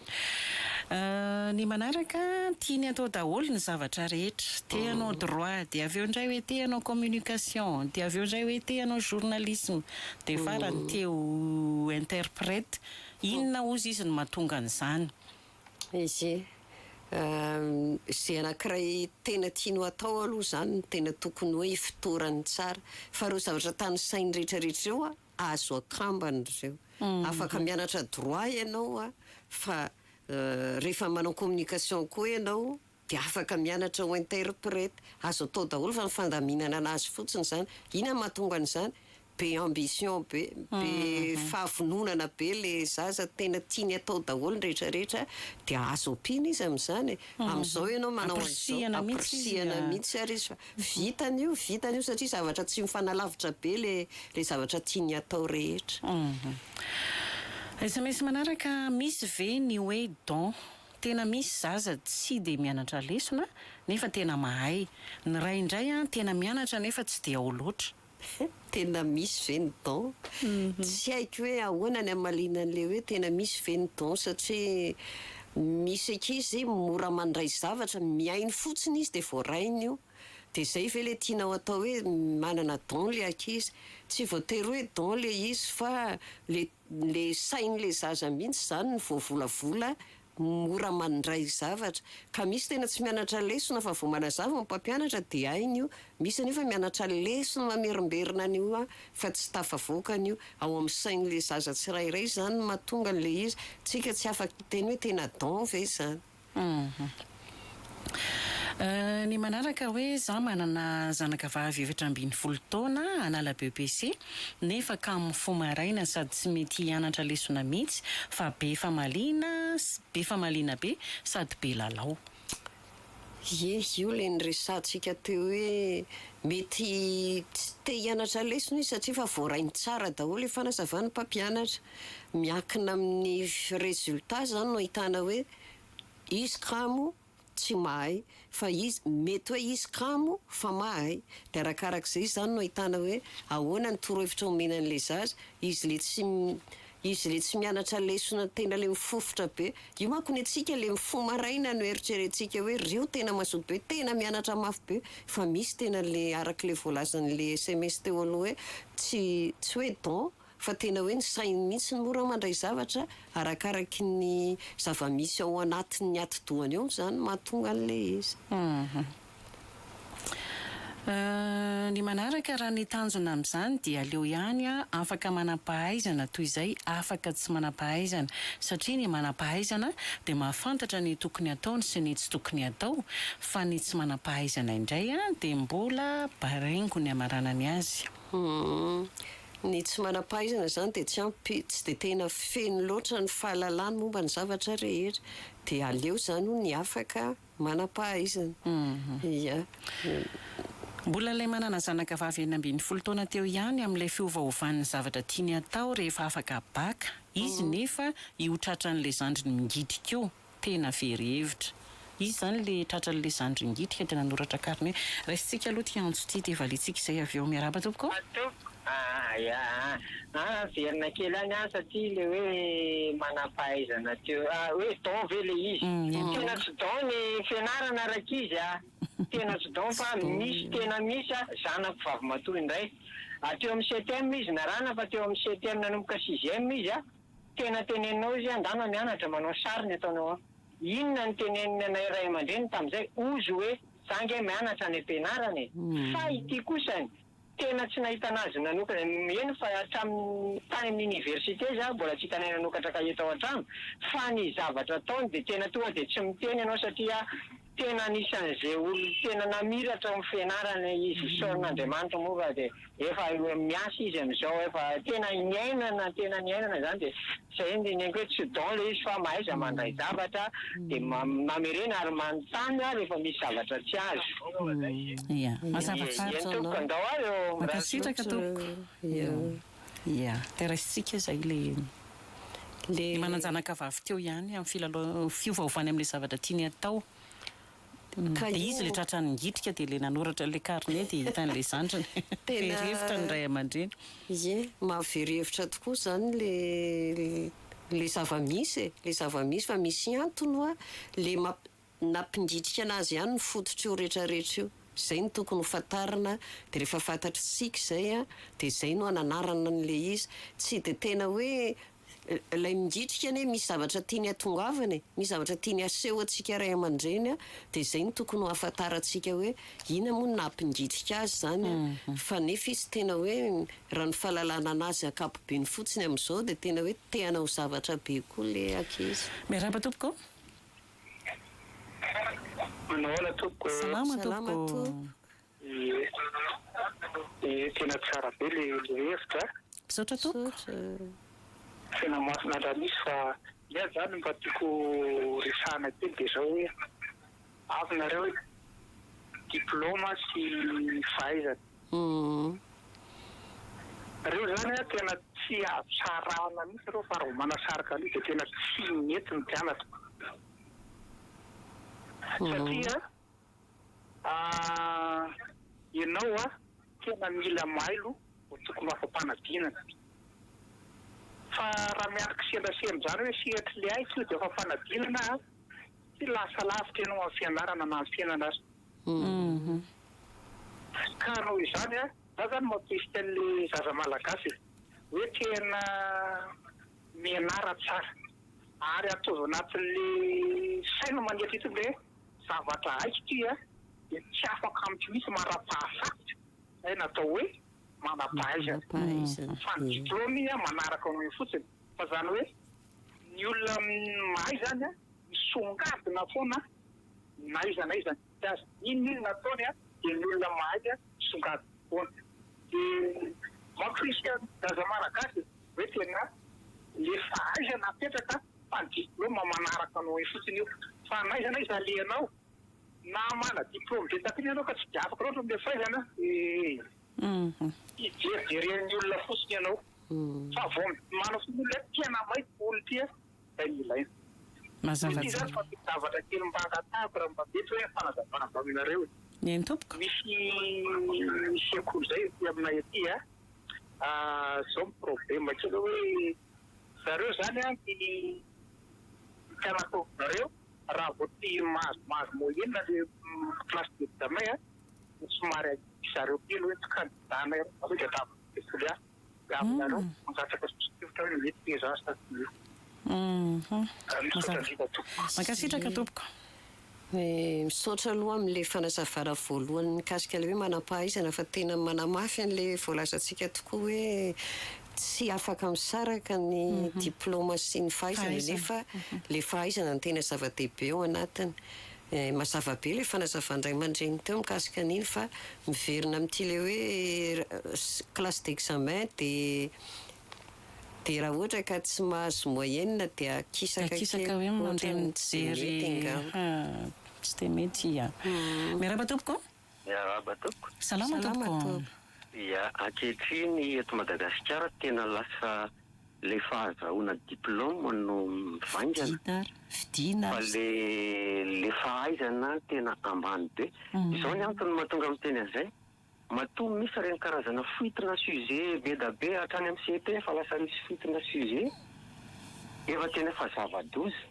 Ny manaraka tiany atao daholo ny zavatra rehetra. Te hanao droit, dia avy eo indray hoe te hanao communication, dia avy eo indray hoe te hanao journalisme, dia farany te ho interprète. Inona hozy izy no mahatonga an'izany? Izy izay anankiray tena tiany ho atao aloha izany no tena tokony hoe ifotorany tsara. Fa ireo zavatra tanisainy rehetra rehetra ireo an! Azo akambana ireo. Afaka mianatra droit ianao a, fa rehefa manao communication koa ianao dia afaka mianatra ho interprète. Azo atao daholo fa ny fandaminana an'azy fotsiny izany. Inona no mahatonga an'izany? Be ambition be, be fahavononana be ilay zaza, tena tiany atao daholo ny rehetra rehetra, dia azo ampiana izy amin'izany e. Amin'izao ianao manao an'izao, ampirisihana mihitsy ary izy fa Vitany io, vitany io satria zavatra tsy mifanalavitra be le le zavatra tiany atao rehetra. SMS manaraka, Misy ve ny hoe don? Tena misy zaza tsy dia mianatra lesona nefa tena mahay. Ny ray indray an tena mianatra nefa tsy dia ao loatra. Tena misy ve ny don? Tsy haiko hoe ahoana ny hamaliana an'ilay hoe tena misy ve ny don satria misy ankizy mora mandray zavatra, mihaino fotsiny izy dia voarainy io. Dia izay ve ilay tianao atao hoe manana don ilay ankizy? Tsy voatery hoe don ilay izy fa ilay ilay sain'ilay zaza mihitsy izany no voavolavola Mora mandray zavatra. Ka misy tena tsy mianatra lesona fa vao manazava ny mpampianatra dia hainy io. Misy anefa mianatra lesona mamerimberina an'io hoa fa tsy tafavoaka an'io. Ao amin'ny sain'ilay zaza tsirairay izany no mahatonga an'ilay izy. Tsika tsy afaka hiteny hoe tena don ve izany. Hum. Ny manaraka hoe za manana zanaka vavy efatra ambin'ny folo taona hanala BEPC nefa kamo fo maraina sady tsy mety hianatra lesona mihitsy fa be famaliana be famaliana be sady be lalao. Ie, io ilay niresahantsika teo hoe mety tsy te hianatra lesona izy satria efa voarainy tsara daholo ilay fanazavan'ny mpampianatra. Miankina amin'ny résultat izany no ahitana hoe Izy kamo tsy mahay fa izy mety hoe izy kamo fa mahay de arakaraka izay izany no ahitana hoe ahoana ny torohevitra omena an'ilay zaza, izy le tsy izy le tsy mianatra lesona tena le mifofotra be, io manko ny antsika le mifoha maraina no eritrerentsika hoe reo tena mazoto be tena mianatra mafy be fa misy tena le arak'le voalazan'le sms teo aloha hoe tsy tsy hoe don Fa tena hoe ny sainy mihitsy no mora mandray zavatra arakaraky ny zava-misy ao anatin'ny atidohany ao izany no mahatonga an'ilay izy. Ny manaraka raha ny tanjona amin'izany dia aleo ihany afaka manam-pahaizana toy izay afaka tsy manam-pahaizana satria ny manam-pahaizana dia mahafantatra ny tokony hataony sy ny tsy tokony hatao fa ny tsy manam-pahaizana indray dia mbola baringo ny hamaranany azy. Humm. Ny tsy manam-pahaizana izany dia tsy ampy, tsy dia tena feno loatra ny fahalalany momba ny zavatra rehetra. Dia aleo izany hono ny afaka manam-pahaizana. Ia. Mbola ilay manana zanaka vavy enina ambin'ny folo taona teo ihany amin'ilay fiovaovan'ny zavatra tiany hatao rehefa afaka bac izy nefa io tratran'ilay zandriny mingidy koa. Tena very hevitra. Izy zany le tratran'le zandry ingitika de nanoratra kariny hoe raisintsika aloha ty antso ty de valintsika izay avy eo. Miarahaba tompoko o. Tompoko ah ya ah ah averina kely any ah satria le hoe manampahaizana teo ah hoe don ve le izy tena tsy don ny fianarana rankizy ah tena tsy don fa misy tena misy ah zanako vavimatoa indray ah teo amin'ny septième izy narana fa teo amin'ny septième nanomboka sixième izy ah. Tena teneninao izy angano mianatra manao sary ny ataonao an! Inona no tenenin'ny anay ray aman-dreny tamin'izay ozy hoe za nge mianatra any am-pianarana e! Fa ity kosa an! Tena tsy nahitana azy nanokana eny fa hatramin'ny tany amin'ny université izy ary mbola tsy hitanay nanokatra kahie tao an-trano fa ny zavatra ataony dia tena tonga dia tsy miteny ianao satria Tena anisan'izay olona tena namiratra ny fianarana izy isaoran'Andriamanitra moa fa dia efa miasa izy amin'izao efa tena niainana tena niainana izany dia izay no dinihiko hoe tsy don ilay izy fa mahaiza mandray zavatra dia mamerena ary manontany ary efa misy zavatra tsy azo. Ia. Mazava tsara izao Noo. Mankasitraka tompoko. Ia. Ia. Dia raisintsika izay ilay manan-janakavavy teo ihany amin'ny filalaovana, fiovaovany amin'ilay zavatra tiany hatao. Dia izy ilay tratran'ny nigitrika dia ilay nanoratra ilay carnet dia hitan'ilay zandriny. Very hevitra ny ray aman-dreny. Ie. Mahavery hevitra tokoa izany ilay zava-misy e. Ilay zava-misy fa misy antony hoa ilay Nampindritrika anazy ihany ny fototr'io retraretra io. Zay no tokony ho fantarina de refa fantatr'tsika izay a de zay no ananarana an'ilay izy. Tsy de tena hoe lay mingitrika anie misy zavatra tiany atongavana e, misy zavatra tiany aseho antsika ray amandreny a de zay no tokony ho afantarantsika hoe ina moa no nahampingitrika azy zany a fa nefa izy tena hoe raha ny fahalalana anazy ankapobeny fotsiny amizao de tena hoe te hanao zavatra be koa le ankizy. Miarahaba tompoko. Manao ahoana tompoko. Salama tompoko. Ie. Ie tena tsara be le hevitra a. Misaotra tompoko. Tena masina ndra misy fa ny ahy zany mba tiako resahana kely de zao hoe avy nareo diploma sy fahaizana Reo zany a tena tsy azo sarahana mihitsy reo fa reo manasarika an'io de tena tsy mety ny mpianatra satria a enao a tena mila mailo vao tokony ho afa-panadinana fa raha miandry kisendrasendra zany hoe sehatry le aiko io de afa-panadinana a tsy lasa lavitra enao amin'ny fianarana na amin'ny fiainana aza. Ka noho izany a, za zany mampisy an'le zaza malagasy e, hoe tena mianara tsara ary ataovy anatin'le sainy manetry ity hoe zavatra haiko ity a, de tsy afaka amiko mihitsy marapahasarotra zay natao hoe manampahaizana fa ny diplôme iny a manaraka anao eo fotsiny fa zany hoe ny olona mahay zany a misongadina foana. na iza na iza nitety azy inona inona ataony a dia ny olona mahay a songadiny foana dia mamporisika ny zaza malagasy hoe tena le fahaizana apetraka fa ny diploma manaraka anao eo fotsiny io fa na iza na iza alehanao na mana diploma be taty iny ianao ka tsy dia afaka loatra amle fahaizana ee hijerijeren'ny olona fotsiny ianao fa vao midimana foana olona tena maika olona ity a. izay no ilaina. Mazava tsara. Ity zany fa misy zavatra kely mba angatahako raha mba mety hoe fanazavana avy aminareo e. Eny tompoko. Misy sekoly zay ety aminay ety a, zao ny problema kely hoe zareo zany a ny mpianakoroanareo raha vao tsy mahazo mahazo moyenne le classe d'examen a dia somary ahiahy zareo kely hoe tsy candidat-nay reo, zany dia ataovy sekoly hafa. Mankasitraka tompoko. Misaotra aloha amin'ilay fanazavana voalohany mikasika ilay hoe manam-pahaizana fa tena manamafy an'ilay voalazantsika tokoa hoe tsy afaka misaraka ny diplaoma sy ny fahaizana nefa ilay fahaizana no tena zava-dehibe ao anatiny. Eh, mazava be ilay fanazavan'ny ray aman-dreny teo mikasika an'iny fa miverina amin'ity ilay hoe classe d'examen dia dia raha ohatra ka tsy mahazo moyenne dia akisaka kely Akisaka hoe mandeha mijery, ah, tsy dia mety, ah. Miarahaba tompoko. Miarahaba tompoko. Salama tompoko. Ia, ankehitriny eto Madagasikara tena lasa ilay fahazahoana diploma no mivaingana. Vidiana ary vidiana ary. Fa ilay ilay fahaizana tena ambany be. Izao ny antony mahatonga miteny an'izay, matoa misy ireny karazana fuite na sujet be da be hatrany amin'ny CEP efa lasa misy fuite na sujet efa tena efa zava-doza.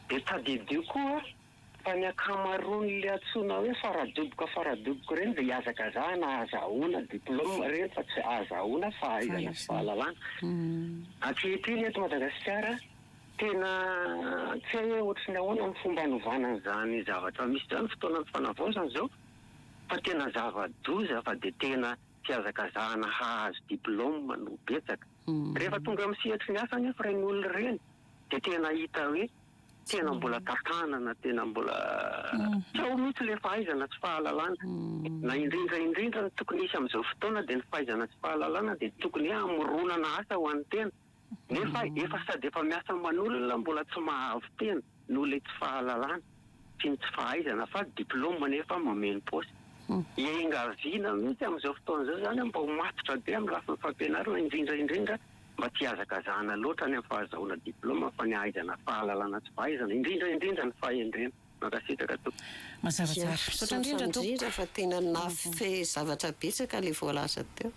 Dia tadidio koa Fa ny ankamaroan'ilay antsoina hoe faradoboka faradoboka ireny dia ihazakazahana ahazahoana diplôme ireny fa tsy ahazahoana fahaizana sy fahalalana. Ankehitriny eto Madagasikara tena tsy hay hoe ohatry ny ahoana ny fomba anovana an'izany zavatra misy izany, fotoana ny fanavaozana izao fa tena zava-doza fa dia tena fihazakazahana hahazo diplôme no betsaka. Rehefa tonga amin'ny sehatry ny asa anefa ireny olona ireny dia tena hita hoe. Tena mbola tantanana, tena mbola tsy ao mihitsy ilay fahaizana sy fahalalana. Na indrindra indrindra ny tokony hisy amin'izao fotoana dia ny fahaizana sy fahalalana dia tokony hoe hamoronana asa ho an'ny tena. Nefa efa sady efa miasa aman'olona mbola tsy mahavy tena noho ilay tsy fahalalana sy ny tsy fahaizana fa diploma nefa mameno paosy. Iangaviana mihitsy amin'izao fotoana izao izany mba ho matotra be amin'ny lafiny fampianarana indrindra indrindra Mba tsy hihazakazahana loatra any amin'ny fahazahoana diplaoma fa ny hahaizana fahalalana sy fahaizana indrindra indrindra ny fahendrena. Mankasitraka tompoko. Mazava tsara. Misaotra indrindra tompoko. Misaotra indrindra fa tena nafy zavatra betsaka ilay voalaza teo.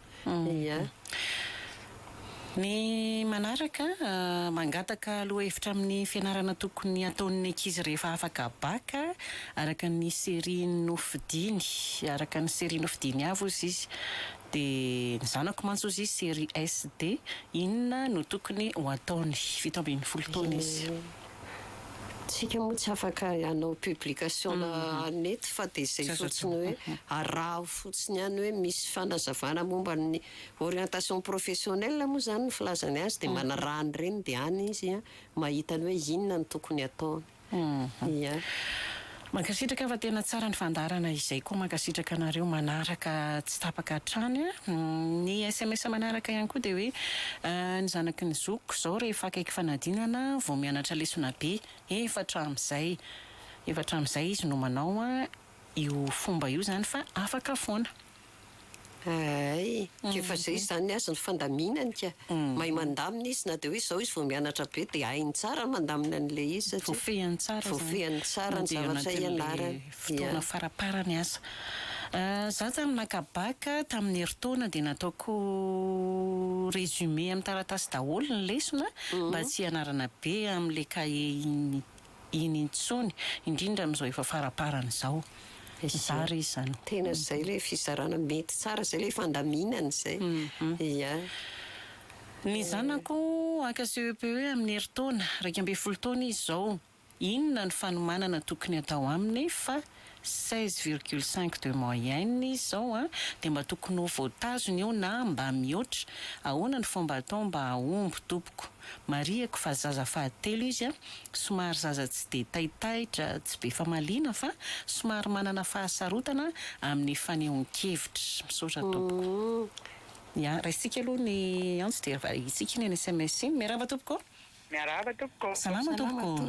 Ia. Ny manaraka, mangataka lohahevitra amin'ny fianarana tokony hataon'ny ankizy rehefa afaka bac, araka ny série nofidiny. Araka ny série nofidiny avy hozy izy. Dia ny zanako mantsy ozy série SD inona no tokony ho ataony? Fito ambin'ny folo taona izy. Tsika moa tsy afaka hanao publication na net fa dia izay fotsiny hoe araho fotsiny ihany hoe misy fanazavana momba ny orientation professionnelle moa izany ny filazany azy dia manaraha an'ireny dia any izy mahita ny hoe inona no tokony ataony. Ia. Mankasitraka fa tena tsara ny fandaharana izay koa mankasitraka anareo manaraka tsy tapaka hatrany a! Ny sms manaraka ihany koa dia hoe ny zanaky ny zokiko izao rehefa akaiky fanadinana vao mianatra lesona be efatra amin'izay efatra amin'izay izy no manao io fomba io izany fa afaka foana. Hay, efa zay izany aza ny fandaminany ka! Mahay mandamina izy, na dia hoe izao izy vao mianatra be dia hainy tsara ny mandamina an'ilay izy satria voafehiny tsara izany, voafehiny tsara ny zavatra ianarany, fotoana faraparany asa. Za zany naka bac tamin'ny herintaona dia nataoko résumé amin'ny taratasy daholo ny lesona mba tsy hianarana be amin'ilay cahier iny iny intsony, indrindra amin'izao efa faraparany izao. Zara izy izany. Tena izay ilay fizarana mety tsara izay ilay fandaminana izay. Ia. Ny zanako haka CEPE amin'ny herintaona, iraika ambin'ny folo taona izy izao. Inona no fanomanana tokony atao aminy fa. seize virgule cinq de moyenne izy zao an, dia mba tokony ho voatazona io na mba mihoatra, ahoana ny fomba atao mba hahomby tompoko, marihiko fa zaza fahatelo izy an, somary zaza tsy dia taitaitra, tsy be famaliana fa somary manana fahasarotana amin'ny fanehoan-kevitra, misaotra tompoko. Ya, raisitsika aloha ny antso dia variantsika iny any sms iny. Miarahaba tompoko. Miarahaba tompoko. Salama tompoko.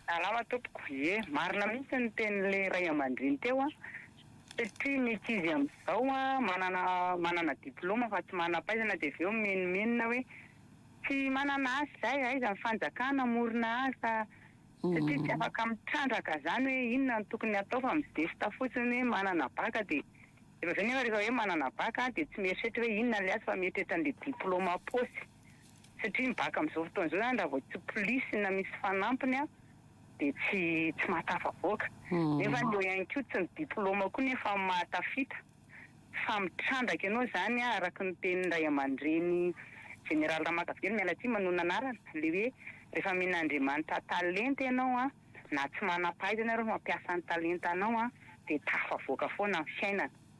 Salama tompoko, ye marina mihitsy ny tenin'ilay ray amandreny teo an, satria ny ankizy amin'izao an manana manana diploma fa tsy manampahaizana dia avy eo mimenomenona hoe tsy manana asa izay, aiza ny fanjakana hamorona asa satria tsy afaka mitrandraka izany hoe inona no tokony hatao fa midefitra fotsiny hoe manana bacc dia efa avy eo nefa rehefa hoe manana bacc dia tsy mieritreritra hoe inona ilay asa fa mieritreritra an'ilay diploma am-paosy. Satria ny baka amin'izao fotoana izao izany raha vao tsy polisy na misy fanampiny dia tsy tsy mahatafavoaka. Nefa eo ihany koa tsy ny diplaoma koa nefa no mahatafita fa mitrandraka ianao izany araka ny tenin'ny ray aman-dreny Jeneraly Ramakavelo miala tsiny manohy ny anarany ilay hoe rehefa omen'Andriamanitra talenta ianao na tsy manam-pahaizana ary mampiasa ny talentanao dia tafavoaka foana ny fiainana.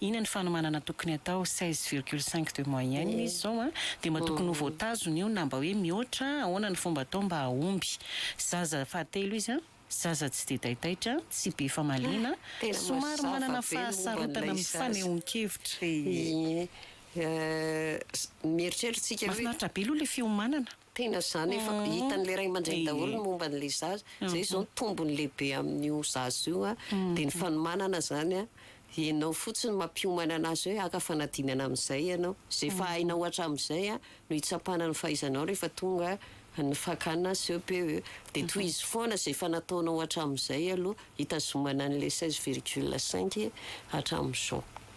Ina ny fanomanana tokony atao, seize virgule cinq de moyenne izy zao an, dia mba tokony ho voatazona io na mba hoe mihoatra, ahoana ny fomba atao mba hahomby. Zaza fahatelo izy an, zaza tsy dia taitaitra, tsy be famaliana, somary manana fahasarotana amin'ny fanehoan-kevitra. Mahafinaritra be aloha ilay fiomanana. Tena izany efa hitan'ilay ray aman-dreny daholo ny momba an'ilay zaza. Izay izao ny tombony lehibe amin'io zaza io dia ny fanomanana izany an, ianao fotsiny mampiomana an'azy hoe haka fanadinana amin'izay ianao. Izay efa hainao hatramin'izay no hitsapana ny fahaizanao rehefa tonga ny fakana CEPE. Dia tohizo foana izay efa nataonao hatramin'izay aloha hitazomana an'ilay seize virgule cinq hatramin'izao.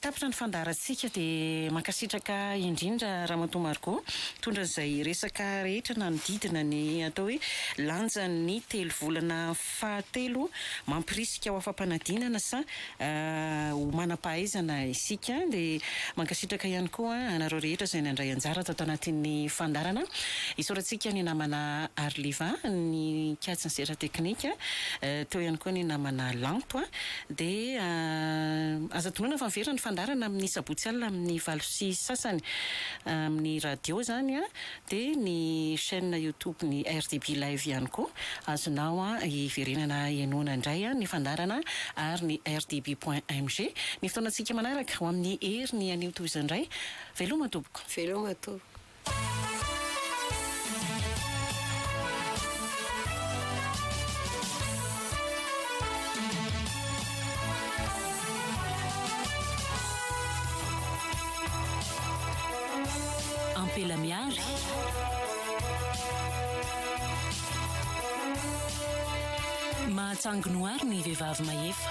Tapitra ny fandaharantsika dia mankasitraka indrindra Ramatoa Margot mitondra izay resaka rehetra nanodidina ny atao hoe lanjan'ny telo volana fahatelo mampirisika ho afa-panadinana sa ho manam-pahaizana isika dia mankasitraka ihany koa anareo rehetra izay nandray anjara tato anatin'ny fandaharana isaorantsika ny namana Arliva nikatsin'ny sehatra teknika teo ihany koa ny namana Lanto dia aza adinoina fa miverina ny fandaharana amin'ny sabotsy alina amin'ny valo sy sasany amin'ny radio izany an, dia ny chaine youtube ny RDB live ihany koa azonao hiverenana henoana indray ny fandaharana ary ny rdb point mg ny fotoanantsika manaraka ho amin'ny heriny anio toy izao indray veloma tompoko. Veloma tompoko. Ampela Mihary. Mahatsangy noir ny vehivavy mahefa.